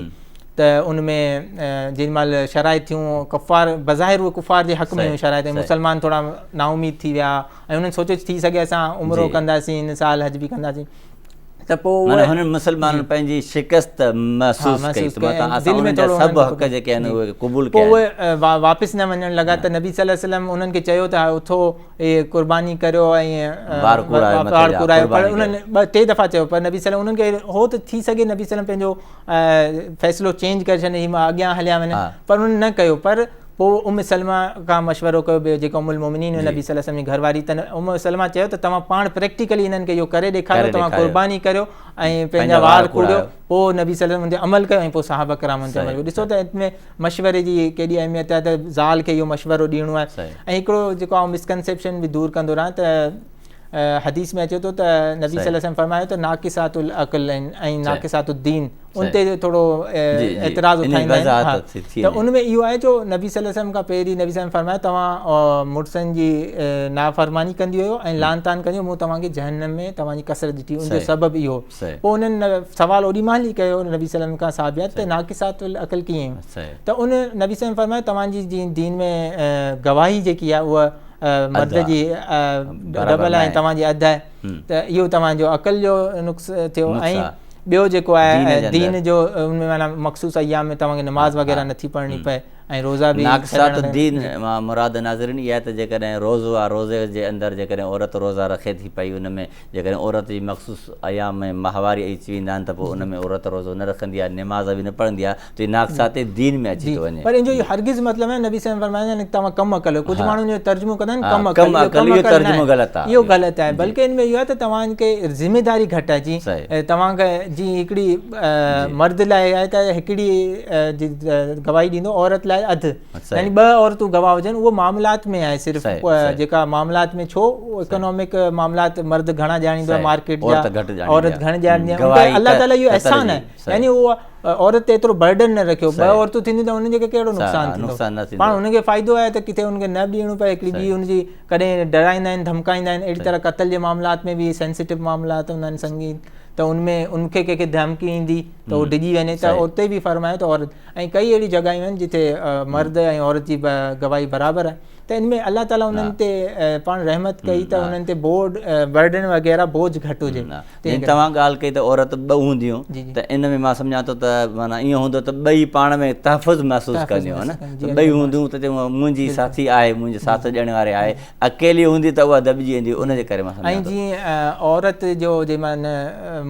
ته ان ۾ جيڏي مهل شرائط ٿيون ڪفار بظاهر اهي ڪفار جي حق ۾ هيون شرائط ۽ مسلمان ٿورا نااميد ٿي ويا ۽ انهن سوچيو ٿي سگهي اسان عمرو ڪنداسين هن سال حج به ڪنداسين ته پوء اهي هنن مسلمانن پنهنجي شڪست محسوس ڪئي ته متان اسان انهن جا سڀ حق جيڪي آهن اهي قبول ڪيا واپس نه وڃڻ لڳا ته نبي صلي الله عليه وسلم انهن کي چيو ته اٿو اهي قرباني ڪريو ۽ بار ڪوڙايو پر انهن ٻه ٽي دفعا چيو پر نبي سلم انهن کي هو ته ٿي سگهي نبي سلم پنهنجو فيصلو چينج ڪري ڇڏين هي اڳيان هليا وڃن پر انهن نه ڪيو پر پوء ام سلمه کان مشورو ڪيو ويو جيڪا ام المومنين هئي نبي صلي الله عليه وسلم جي گهر واري ته ام سلمه چيو ته توهان پاڻ پريڪٽيڪلي انهن کي اهو ڪري ڏيکاريو توهان قرباني ڪريو ۽ پنهنجا وار کوڙيو پوء نبي صلي الله عليه وسلم ان تي عمل ڪيو ۽ پوء صحابه ڪرام ان تي عمل ڪيو ڏسو ته ان ۾ مشوري جي ڪيڏي اهميت آهي ته زال کي اهو مشورو ڏيڻو آهي ۽ هڪڙو جيڪو آئون مسڪنسيپشن به دور ڪندو رهان ته حديث ۾ اچي ٿو ته نبي صلي وسلم فرمايو ته ناقصات العقل ۽ ناقصات الدين ان تي ٿورو اعتراض اٿائيندا آهن ته ان ۾ اهو آهي جو نبي صلي وسلم کان پهرين نبي صلي وسلم فرمايو توهان مڙسن جي نافرماني ڪندي هيو ۽ لعان تان ڪندي مون توهان کي جهنم ۾ توهان جي ڪثرت ڏٺي ان جو سبب اهو پوء انهن سوال اوڏي مهل ئي ڪيو نبي صلي الله عليه وسلم کان صحابيات ته ناقصات العقل ڪيئن؟ ته ان نبي صلي الله عليه وسلم فرمايو توهان جي جي دين ۾ گواهي جيڪي آهي اها مرد جي ڊبل آهي ۽ توهان جي اڌ آهي ته اهو توهان جو عقل جو نقص ٿيو ۽ ٻيو جيڪو آهي دين جو ان ۾ معنيٰ مخصوص ايام ۾ توهان کي نماز وغيره نه ٿي پڙهڻي پئي ۽ روزا به ناقصات الدين مان مراد ناظرين اها آهي ته جيڪڏهن روزو آهي روزي جي اندر جيڪڏهن عورت روزا رکي ٿي پئي ان ۾ جيڪڏهن عورت جي مخصوص ايام ۾ ماهواري اهي ٿي ويندا آهن ته پوء ان ۾ عورت روزو نه رکندي آهي، نماز به نه پڙهندي آهي ته هي ناقصات دين ۾ اچي ٿو وڃي. پر ان جو اهو هرگز مطلب ناهي، نبي صلي الله عليه وسلم فرمائيندا آهن ته توهان ڪم عقل آهيو، ڪجهه ماڻهو ان جو ترجمو ڪندا آهن ڪم عقل، اهو ڪم عقل ناهي، اهو غلط آهي، بلڪه ان ۾ اهو آهي ته توهان کي ذميداري گهٽ آهي، جيئن توهان کي جيئن هڪڙي مرد لاء آهي ته هڪڙي جي گواهي ڏيندو عورت لاء اڌ. يعني ٻه عورتون گواهه هجن اهو معاملات ۾ آهي صرف جيڪا معاملات ۾ ڇو اڪنامڪ معاملات مرد گهڻا ڄاڻيندو آهي مارڪيٽ جا عورت گهڻ ڄاڻيندي آهي الله تعالي جو احسان آهي يعني اهو عورت تي ايترو برڊن نه رکيو ٻه عورتون ٿينديون ته انهن جي ڪهڙو نقصان ٿيندو پاڻ انهن کي فائدو آهي ته ڪٿي انهن کي نه ڏيڻو پئي هڪڙي ٻي ان جي ڪڏهن ڊرائيندا آهن ڌمڪائيندا آهن اهڙي طرح قتل جي معاملات ۾ به سينسيٽو معاملات هوندا آهن سنگين ته ان ۾ ان کي ڪنهن کي ڌمڪي ايندي ته هو ڊڄي وڃي ته اتي به فرمايو ته عورت ۽ ڪئي اهڙيون جڳهيون آهن جتي مرد ۽ عورت جي گواهي برابر آهي ته ان ۾ الله تعالي انهن تي پاڻ رحمت ڪئي ته انهن تي بورڊ برڊن وغيره بوجھ گھٽ هجي جي توهان ڳالھ ڪئي ته عورت ٻه هونديون ته ان ۾ مان سمجھان ٿو ته معنيٰ ايئن هوندو ته ٻئي پاڻ ۾ تحفظ محسوس ڪنديون ها نه ٻئي هونديون ته چون منهنجي ساٿي آهي منهنجي ساٿ ڏيڻ واري آهي اڪيلي هوندي ته اها دٻجي ويندي ان جي ڪري مان سمجھان ٿو ۽ جيئن عورت جو جي معنيٰ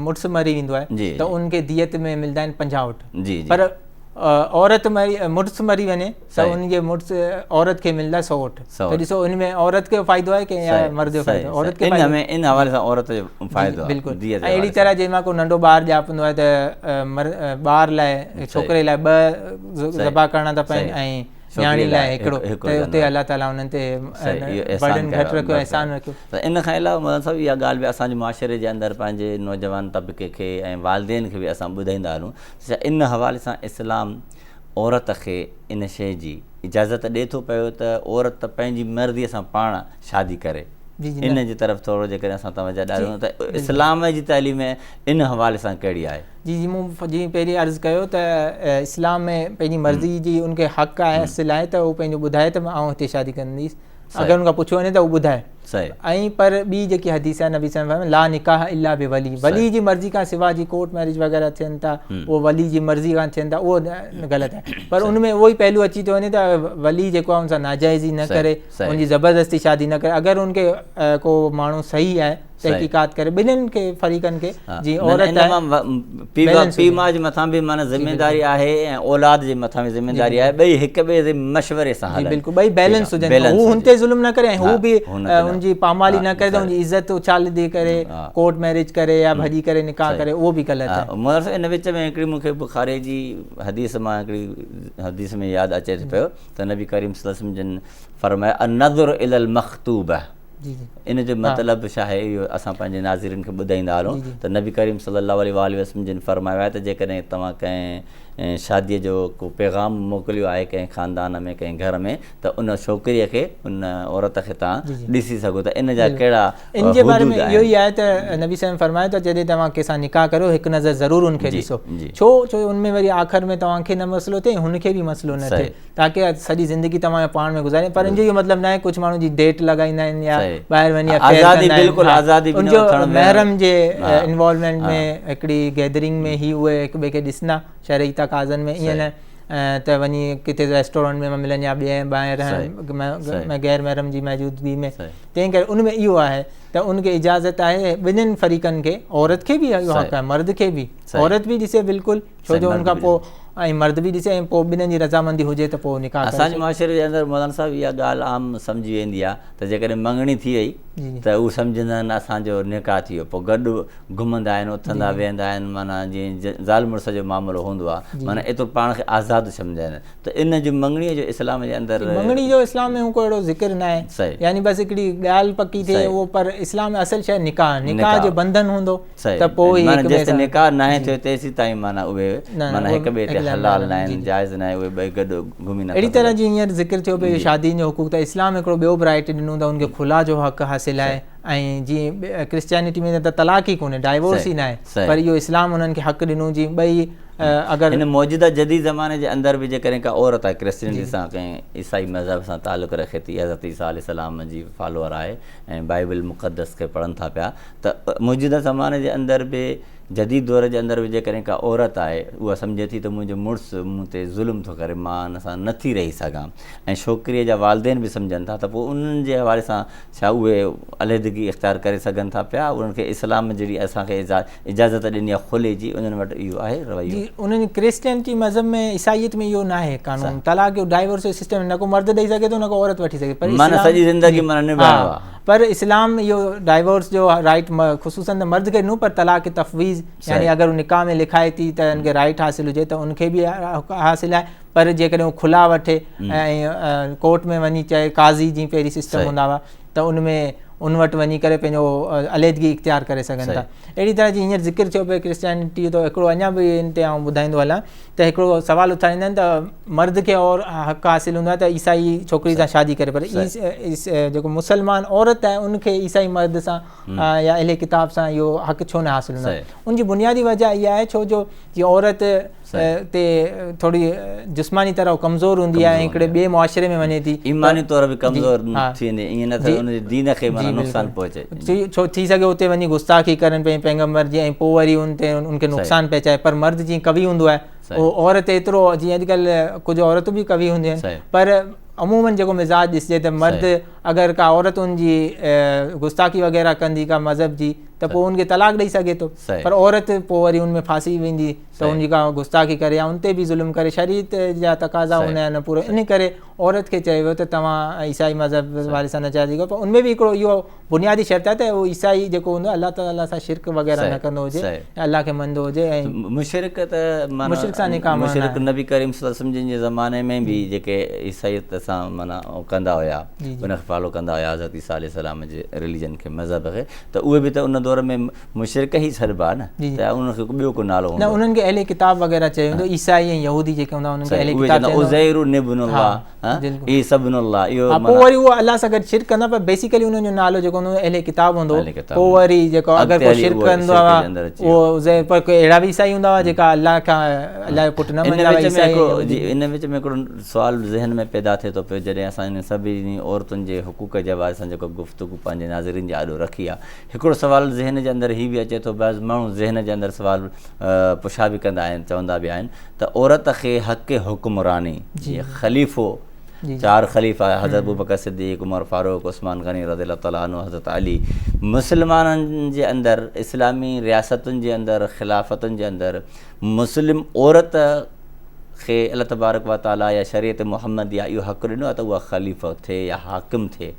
مڙس مري ويندو آهي ته ان کي ديت ۾ ملدا آهن پنجاهه اٺ جي جي پر عورت مري مڙس مري وڃي سو ان جي مڙس عورت کي ملدا سوٽ تو ڏسو ان ۾ عورت کي فائدو آهي ڪي يا مرد جو فائدو عورت کي ان ۾ ان حوالي سان عورت جو فائدو آهي بلڪل دي جي اهڙي طرح جي ما ڪو ننڊو بار جاپندو آهي ته بار لاء ڇوڪري لاء ٻه زبا ڪرڻا ته پين ۽ نياڻي لاء هڪڙو ته اتي الله تعالي انهن تي برڊن گهٽ رکيو احسان رکيو. ته ان کان علاوه مولانا صاحب اها ڳالهه به اسان جي معاشري جي اندر پنهنجي نوجوان طبقي کي ۽ والدين کي به اسان ٻڌائيندا هلون ته ان حوالي سان اسلام عورت کي ان شيء جي اجازت ڏئي ٿو پيو ته عورت پنهنجي مرضي سان پاڻ شادي ڪري ان جي طرف ٿورو جيڪڏهن اسان توجه ڏياريون ته اسلام جي تعليم ان حوالي سان ڪهڙي آهي. جي جي مون جي پهرين عرض ڪيو ته اسلام ۾ پنهنجي مرضي جي ان کي حق آهي اصل آهي ته هو پنهنجو ٻڌائي ته آئون هتي شادي ڪنديس اگر ان کان پڇيو وڃي ته هو ٻڌائي ۽ پر ٻي جيڪي حديث آهي نبي صلي الله لا نڪاح الا به ولي ولي جي مرضي کان سوا جي ڪورٽ ميرج وغيرہ ٿين ٿا هو ولي جي مرضي کان ٿين ٿا اهو غلط آهي پر ان ۾ اهو ئي پهلو اچي ٿو وڃي ته ولي جيڪو آهي ان سان ناجائزي نه ڪري ان جي زبردستي شادي نه ڪري اگر ان کي ڪو ماڻهو صحيح آهي تحقيقات ڪري ٻنهين کي فريقن کي جي عورت پي ماء جي مٿان به معنی ذميواري آهي ۽ اولاد جي مٿان به ذميواري آهي ٻئي هڪ ٻئي جي مشوري سان هلن بلڪل ٻئي بيلنس هجن هو هن تي ظلم نه ڪري ۽ هو به هن جي پامالي نه ڪري ته هن جي عزت اڇالي ڏي ڪري ڪورٽ ميرج ڪري يا ڀڄي ڪري نڪاح ڪري اهو به غلط آهي مگر صاحب ان وچ ۾ هڪڙي مون کي بخاري جي حديث مان هڪڙي حديث ۾ ياد اچي ٿو پيو ته نبي ڪريم صلي الله عليه وسلم جن فرمايو النظر الي المخطوبه ان جو مطلب شاهي اهو اسان پنهنجي ناظرين کي ٻڌائيندا هلون ته نبي ڪريم صلي الله عليه واٰله وسلم جن فرمايو آهي ته جيڪڏهن توهان ڪنهن شاديء جو ڪو پيغام موڪليو آهي ڪنهن خاندان ۾ ڪنهن گهر ۾ ته ان ڇوڪريء کي ان عورت کي توهان ڏسي سگهو ٿا ان جا ڪهڙا ان جي باري ۾ اهو ئي آهي ته نبي صلي فرمايو ته جڏهن توهان ڪنهن سان نڪاح ڪريو هڪ نظر ضرور ان کي ڏسو ڇو ڇو ان ۾ وري آخر ۾ توهان کي نه مسئلو ٿئي هن کي به مسئلو نه ٿئي تاڪي سڄي زندگي توهان کي پاڻ ۾ گذاري پر ان جو اهو مطلب ناهي ڪجهه ماڻهو جي ڊيٽ لڳائيندا آهن يا ٻاهر وڃي آزادي بالڪل آزادي ان جو محرم جي انوالومينٽ ۾ هڪڙي گيدرنگ ۾ هي اهي هڪ ٻئي کي ڏسندا شرعي تقاضن ۾ ائين نه ته وڃي ڪٿي ريسٽورنٽ ۾ ملن يا ٻئي ٻاهر غير محرم جي موجودگي ۾ تنهن ڪري ان ۾ اهو آهي ته ان کي اجازت آهي ٻنهي فريقن کي عورت کي به اهو حق آهي مرد کي به عورت به ڏسي بالڪل ڇو جو ان کان پوء ۽ مرد به ڏسي ۽ پوء ٻنهي جي رضامندي هجي ته پوء نڪاح ڪري. اسان جي معاشري جي اندر مولانا صاحب اها ڳالهه عام سمجهي ويندي آهي ته جيڪڏهن مڱڻي ٿي وئي ته هو سمجهندا آهن اسان جو نڪاح ٿي ويو پوء گڏ گهمندا آهن اٿندا ويهندا آهن معنيٰ جيئن زال مڙس جو معاملو هوندو آهي معنيٰ ايترو پاڻ کي آزاد سمجهندا آهن ته ان جو مڱڻي جو اسلام جي اندر مڱڻي جو اسلام ۾ ڪو اهڙو ذڪر نه آهي يعني بس هڪڙي ڳالهه پڪي ٿئي پر اسلام ۾ اصل شيء نڪاح نڪاح جو بنڌن هوندو ته پوء هي هڪ ٻئي سان معنيٰ جيسين نڪاح ناهي ٿيو تيسين تائين معنيٰ اهي معنيٰ هڪ ٻئي تي حلال ناهن جائز ناهي اهي ٻئي گڏ گهمي نٿا سگهن. اهڙي طرح جيئن هينئر ذڪر ٿيو پيو شادين جو حقوق ته اسلام هڪڙو ٻيو برايٽي ڏنو ته ان کي خلا جو حق حاصل آهي ۽ جيئن ڪرسچيانٽي ۾ ته طلاق ئي ڪونهي ڊائيورس ئي ناهي پر اهو اسلام انهن کي حق ڏنو جي ٻئي اگر هن موجوده جديد زماني جي اندر به جيڪڏهن ڪا عورت آهي ڪرسچينٽي سان ڪنهن عيسائي مذهب سان تعلق رکي ٿي حضرت عيسيٰ عليه السلام جي فالوور آهي ۽ بائبل مقدس کي پڙهن ٿا پيا ته موجوده زماني جي اندر به جديد دور جي اندر به جيڪڏهن ڪا عورت آهي اها سمجهي ٿي ته منهنجو مڙس مون تي ظلم ٿو ڪري مان ان سان نه ٿي رهي سگهان ۽ ڇوڪريء جا والدين به سمجهن ٿا ته پوء انهن جي حوالي سان ڇا اهي عليحدگي اختيار ڪري سگهن ٿا پيا انهن کي اسلام جهڙي اسان کي اجازت ڏني آهي خلي جي انهن وٽ اهو آهي رويو جي انهن ڪرسچينٽي مذهب ۾ عيسائيت ۾ اهو ناهي قانون طلاق جو ڊائيورس جو سسٽم نه ڪو مرد ڏئي سگهي ٿو نه ڪو عورت وٺي سگهي ٿي پر اسلام معنيٰ سڄي زندگي معنيٰ نڀايو آهي پر اسلام اهو ڊائيورس جو رائيٽ خصوصن ته مرد کي نو پر طلاق تفويض يعني اگر هو نڪاح ۾ لکائي ٿي ته ان کي رائيٽ حاصل هجي ته ان کي به حاصل آهي پر جيڪڏهن هو کلا وٺي ۽ ڪورٽ ۾ وڃي چئي قاضي جي پهرين سسٽم هوندا هئا ته ان ۾ ان وٽ وڃي ڪري پنهنجو عليحدگي اختيار ڪري سگهن ٿا اهڙي طرح جي هينئر ذڪر ٿيو پئي ڪرسچينٽي تو هڪڙو اڃا به ان تي آئون ٻڌائيندو هلان ته هڪڙو سوال اٿاريندا آهن ته مرد کي اور حق حاصل هوندو آهي ته عيسائي ڇوڪري سان شادي ڪري پر جيڪو مسلمان عورت آهي ان کي عيسائي مرد سان يا اهل ڪتاب سان اهو حق ڇو نه حاصل هوندو آهي ان جي بنيادي وجه اها آهي ڇو جو جي عورت تي ٿوري جسماني طرح ڪمزور هوندي آهي هڪڙي ٻي معاشري ۾ وڃي ٿي ايماني طور به ڪمزور ٿي ويندي ائين نه ته ان جي دين کي نقصان پهچي ڇو ٿي سگهي اتي وڃي گستاخي ڪرن پنهنجي پيغمبر جي ۽ پوء وري ان تي ان کي نقصان پهچائي پر مرد جيئن قوي هوندو آهي اهو عورت ايترو جيئن اڄڪلهه ڪجهه عورتون به قوي هونديون آهن پر عموماً جيڪو مزاج ڏسجي ته مرد اگر ڪا عورت ان جي گستاخي وغيره ڪندي ڪا مذهب جي ته پوء ان کي طلاق ڏئي سگهي ٿو پر عورت پوء وري ان ۾ ڦاسي ويندي ته ان جي ڪا گستاخي ڪري يا ان تي به ظلم ڪري شريعت جا تقاضا هوندا آهن پورو ان ڪري عورت کي چيو ويو ته توهان عيسائي مذهب واري سان نه چاهي سگهو پر ان ۾ به هڪڙو اهو بنيادي شرط آهي ته عيسائي جيڪو هوندو الله تعالي سان شرڪ وغيره نه ڪندو هجي الله کي مندو هجي ۽ مشرڪ ته معنيٰ مشرڪ سان نڪاح معنيٰ مشرڪ نبي ڪريم صلي الله عليه وسلم جن جي زماني ۾ به جيڪي عيسائيت سان معنيٰ ڪندا هيا ان کي فالو ڪندا هيا حضرت عيسيٰ عليه السلام جي رليجن کي مذهب کي ته اهي به ته ان دور ۾ مشرڪ ئي سڏبا آهن نه جي جي ته انهن کي ٻيو ڪو نالو هوندو نه انهن کي اهل ڪتاب وغيره چيو ويندو عيسائي ۽ يهودي جيڪي هوندا انهن کي اهل ڪتاب چيو ويندو عزير ابن الله ها عيسي ابن الله اهو ها پوء وري اهو الله سان گڏ شرڪ ڪندا پر بيسيڪلي انهن جو نالو جيڪو هوندو اهل ڪتاب هوندو پوء وري جيڪو اگر ڪو شرڪ ڪندو آ اهو عزير پر ڪي اهڙا به عيسائي هوندا هئا جيڪا الله کان الله جو پٽ نه مڃيندا هئا عيسائي ۽ يهودي ان وچ ۾ هڪڙو سوال ذهن ۾ پيدا ٿئي ٿو پيو جڏهن اسان انهن سڀني عورتن جي حقوق جي حوالي سان جيڪو گفتگو پنهنجي ناظرين جي آڏو رکي آ هڪڙو سوال ذهن جي اندر هي به اچي ٿو بعض ماڻهو ذهن جي اندر سوال پڇا به ڪندا آهن چوندا به آهن ته عورت کي حق حڪمراني جي خليفو چار خليفا حضرت ابوبڪر صديق عمر فاروق عثمان غني رضي الله تعالٰي عنه حضرت علي مسلمانن جي اندر اسلامي رياستن جي اندر خلافتن جي اندر مسلم عورت کي الله تبارڪ و تعاليٰ يا شريعت محمديه اهو حق ڏنو آهي ته اها خليفو ٿئي يا حاڪم ٿئي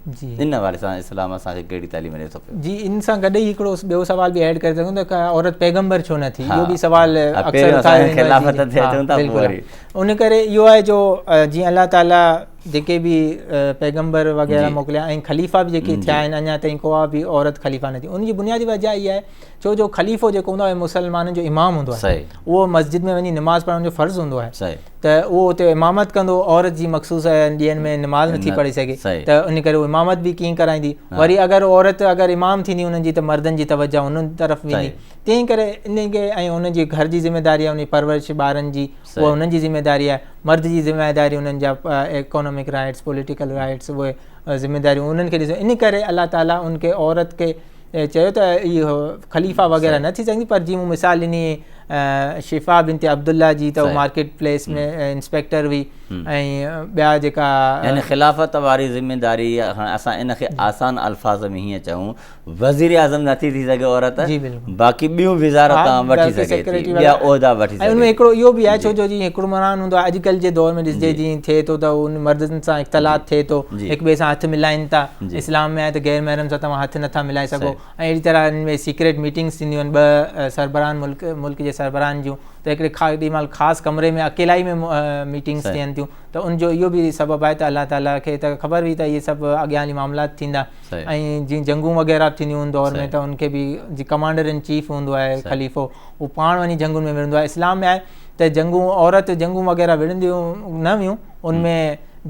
ان حوالي سان اسلام اسان کي ڪهڙي تعليم ڏي ٿو پيو. جي ان سان گڏ ئي هڪڙو ٻيو سوال به ايڊ ڪري سگهون ٿا ته عورت پيغمبر ڇو نه ٿي اهو به سوال اڪثر اٿايو ويندو آهي خلافت تي اچون ٿا پوء وري ان ڪري اهو آهي جو جيئن الله تعاليٰ جيڪي به پيغمبر وغيره موڪليا ۽ خليفا به جيڪي ٿيا آهن اڃا تائين ڪوها به عورت خليفا نه ٿي ان جي بنيادي وجه اها آهي ڇو جو خليفو جيڪو هوندو آهي مسلمانن جو امام هوندو آهي اهو مسجد ۾ وڃي نماز پڙهڻ جو فرض هوندو آهي ته اهو اتي امامت ڪندو عورت جي مخصوص ڏينهن ۾ نماز نٿي پڙهي سگهي ته ان ڪري هو امامت به ڪيئن ڪرائيندي وري اگر عورت اگر امام ٿيندي انهن جي ته مردن جي توجه انهن طرف ويندي تنهن ڪري ان کي ۽ انهن جي گهر جي ذميواري انهي پرورش ٻارن جي اها انهن جي ذميواري آهي مرد جي ذميواري انهن جا اڪانومڪ رائيٽس پوليٽيڪل رائيٽس اهي ذميواريون انهن کي ڏسي ان ڪري الله تعالٰي ان کي عورت کي ۽ چيو ته اهي خليفا وغيره نه ٿي سگهندي پر جي مون مثال ڏني شفا بنت عبدالله جي ته مارڪيٽ پليس ۾ انسپيڪٽر هئي ۽ ٻيا جيڪا يعني خلافت واري ذميداري اسان ان کي آسان الفاظ ۾ هيئن چئون وزير اعظم نه ٿي ٿي سگهي عورت باقي ٻيون وزارتون وٺي سگهي ٿي ٻيا عهدا وٺي سگهي ٿي ان ۾ هڪڙو اهو به آهي ڇو جو جي حڪمران هوندو آهي اڄڪلهه جي دور ۾ ڏسجي جي ٿئي ٿو ته ان مردن سان اختلاط ٿئي ٿو هڪ ٻئي سان هٿ ملائين ٿا اسلام ۾ آهي ته غير محرم سان توهان هٿ نٿا ملائي سگهو ۽ اهڙي طرح ان ۾ سيڪريٽ ميٽنگس ٿينديون آهن ٻه سربراهن ملڪ ملڪ جي سربراهن جون ته هڪڙي ڪي مال خاص ڪمري ۾ اڪيلائي ۾ ميٽنگس ٿين ٿيون ته ان جو اهو به سبب آهي ته الله تعاليٰ کي ته خبر هئي ته اهي سڀ اڳيان هلي معاملات ٿيندا ۽ جيئن جنگون وغيره به ٿينديون ان دور ۾ ته ان کي به جي ڪمانڊر ان چيف هوندو آهي خليفو هو پاڻ وڃي جنگون ۾ وڙهندو آهي اسلام ۾ آهي ته جنگون عورت جنگون وغيره وڙهنديون نه هيون ان ۾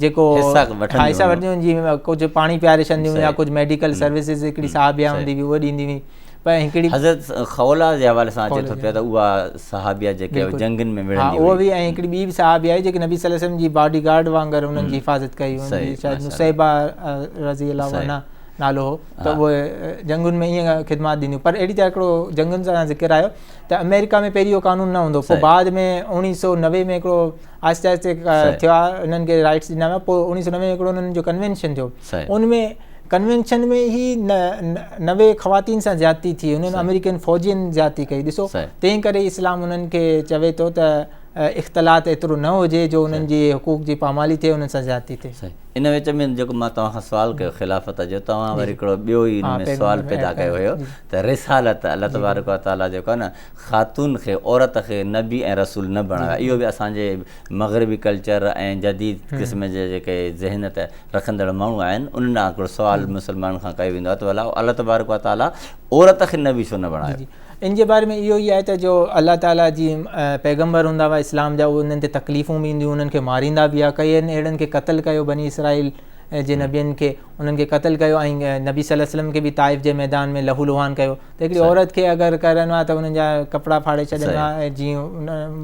جيڪو حصا وٺنديون هيون جي ڪجهه پاڻي پياري ڇڏنديون هيون يا ڪجهه ميڊيڪل سروسز هڪڙي صاحبيا هوندي هئي اهو ڏيندي هئي پر هڪڙي حضرت خولا جي حوالي سان اچي ٿو پيو ته اها صحابيا جيڪي جنگن ۾ وڙهندي هئي اها به ۽ هڪڙي ٻي به صحابيا آهي جيڪي نبي صلي الله عليه وسلم جي باڊي گارڊ وانگر انهن جي حفاظت ڪئي هئي شايد نصيبه رضي الله عنها نالو هو ته اهو جنگن ۾ ائين خدمات ڏينديون پر اهڙي طرح هڪڙو جنگن سان ذڪر آيو ته آمريڪا ۾ پهرين اهو قانون نه هوندو پوء بعد ۾ اوڻيهه سو نوي ۾ هڪڙو آهستي آهستي ٿيا انهن کي رائيٽس ڏنا ويا پوء اوڻيهه سؤ نوي ۾ هڪڙو انهن جو ڪنوينشن ٿيو ان ۾ ڪنوينشن ۾ ئي نوي خواتين سان زيادتي ٿي انهن آمريڪين فوجين زيادتي ڪئي ڏسو تنهن ڪري اسلام انهن کي چوي ٿو ته اختلاط ايترو نه هجي جو انهن جي حقوق جي پامالي ٿئي انهن سان زيادتي ٿئي ان وچ ۾ جيڪو مان توهان کان سوال ڪيو خلافت جو توهان وري هڪڙو ٻيو ئي ان ۾ سوال پيدا ڪيو هيو ته رسالت الله تبارڪ وتعاليٰ جيڪو آهي نه خاتون کي، عورت کي، نبي ۽ رسول نه بڻايو آهي. اهو به اسان جي مغربي ڪلچر ۽ جديد قسم جي جيڪي ذهنيت رکندڙ ماڻهو آهن، انهن ڏانهن هڪڙو سوال مسلمانن کان ڪيو ويندو آهي ته ڀلا الله تبارڪ و تعاليٰ عورت کي نبي ڇو نه بڻايو؟ ان جي باري ۾ اهو ئي آهي ته جو الله تعاليٰ جي پيغمبر هوندا هئا اسلام جا، انهن تي تڪليفون به اينديون هيون، انهن کي ماريندا به هئا، ڪئين اهڙن کي قتل ڪيو بني اسرائيل. جي نبين کي انهن کي قتل ڪيو ۽ نبي صلي الله عليه وسلم کي به طائف جي ميدان ۾ لهو لهان ڪيو ته هڪڙي عورت کي اگر ڪرڻو آهي ته انهن جا ڪپڙا ڦاڙي ڇڏڻا ۽ جيئن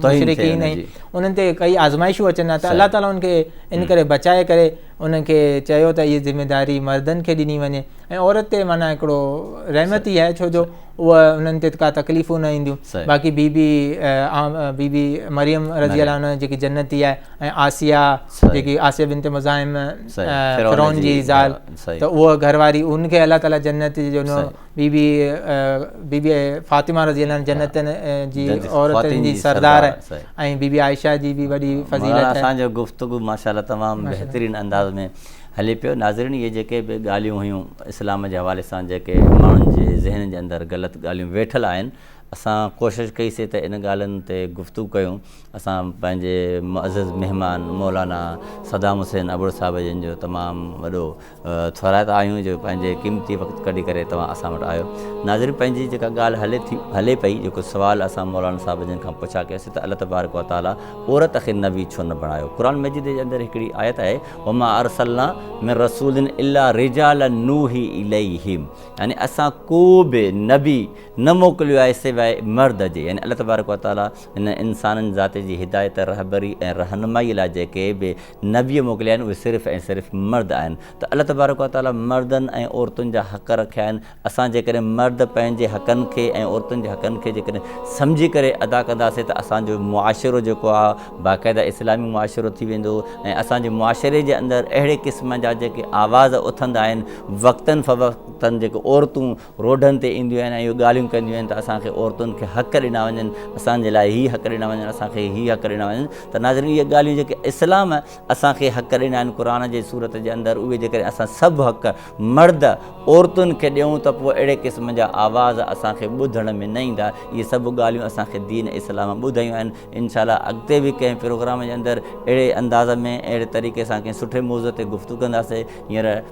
مشرڪين ۽ انهن تي ڪئي آزمائشون اچن ها ته الله تعالي انهن کي ان ڪري بچائي ڪري انهن کي چيو ته هي ذميداري مردن کي ڏني وڃي ۽ عورت تي معنيٰ هڪڙو رحمت ئي آهي ڇو جو اها انهن تي ڪا تڪليفون نه اينديون باقي بي بي بي بي مريم رضي الله عنها جيڪي جنتي آهي ۽ آسيا جيڪي آسيا بنت مزاحم فرعون جي زال ته اهو گهر واري ان کي الله تعالي جنت جو نو بي بي بي بي فاطمه رضي الله عنها جنت جي عورت جي سردار ۽ بي بي عائشه جي به وڏي فضيلت آهي اسان جو گفتگو ماشاءالله تمام بهترين انداز ۾ هلي پيو ناظرين اهي جيڪي به ڳالهيون هيون اسلام جي حوالي سان جيڪي ماڻهن جي ذهن جي اندر غلط ڳالهيون ويٺل آهن اسان ڪوشش ڪئي سي ته ان ڳالهين تي گفتگو ڪيون اسان پنهنجي معزز مهمان مولانا صدام حسين ابڙو صاحب جن جو تمام وڏو ٿورائتا آهيون جو پنهنجي قيمتي وقت ڪڍي ڪري توهان اسان وٽ آيو ناظرين پنهنجي جيڪا ڳالهه هلي ٿي هلي پئي جيڪو سوال اسان مولانا صاحب جن کان پڇا ڪياسي ته الله تبارڪ وتعالي عورت کي نبي ڇو نه بڻايو قرآن مجيد جي اندر هڪڙي آيت آهي وما ارسلنا من رسول الا رجالا نوحي اليهم يعني اسان ڪو به نبي نه موڪليو آهي سواء مرد جي يعني الله تبارڪ وتعالي هن انسانن ذات جي هدايت، رهبري ۽ رهنمائي لاء جيڪي به نبي موڪليا آهن اهي صرف ۽ صرف مرد آهن ته الله تبارڪ و تعاليٰ مردن ۽ عورتن جا حق رکيا آهن اسان جيڪڏهن مرد پنهنجي حقن کي ۽ عورتن جي حقن کي جيڪڏهن سمجهي ڪري ادا ڪنداسين ته اسان جو معاشرو جيڪو آهي باقاعده اسلامي معاشرو ٿي ويندو ۽ اسان جي معاشري جي اندر اهڙي قسم جا جيڪي آواز اٿندا آهن وقتن فوقتن جيڪي عورتون روڊن تي اينديون آهن ۽ اهي ڳالهيون ڪنديون آهن ته اسان کي عورتن کي حق ڏنا وڃن اسان جي لاء هي حق ڏنا وڃن اسان کي هي حق ڏنا وڃن ته ناظرين اهي ڳالهيون جيڪي اسلام اسان کي حق ڏنا آهن قرآن جي سورت جي اندر اهي جيڪڏهن اسان سڀ حق مرد عورتن کي ڏيون ته پوء اهڙي قسم جا آواز اسان کي ٻڌڻ ۾ نه ايندا اهي سڀ ڳالهيون اسان کي دين اسلام ٻڌايون آهن انشاء الله اڳتي به ڪنهن پروگرام جي اندر اهڙي انداز ۾ اهڙي طريقي سان ڪنهن سٺي موضوع تي گفتگو ڪنداسين هينئر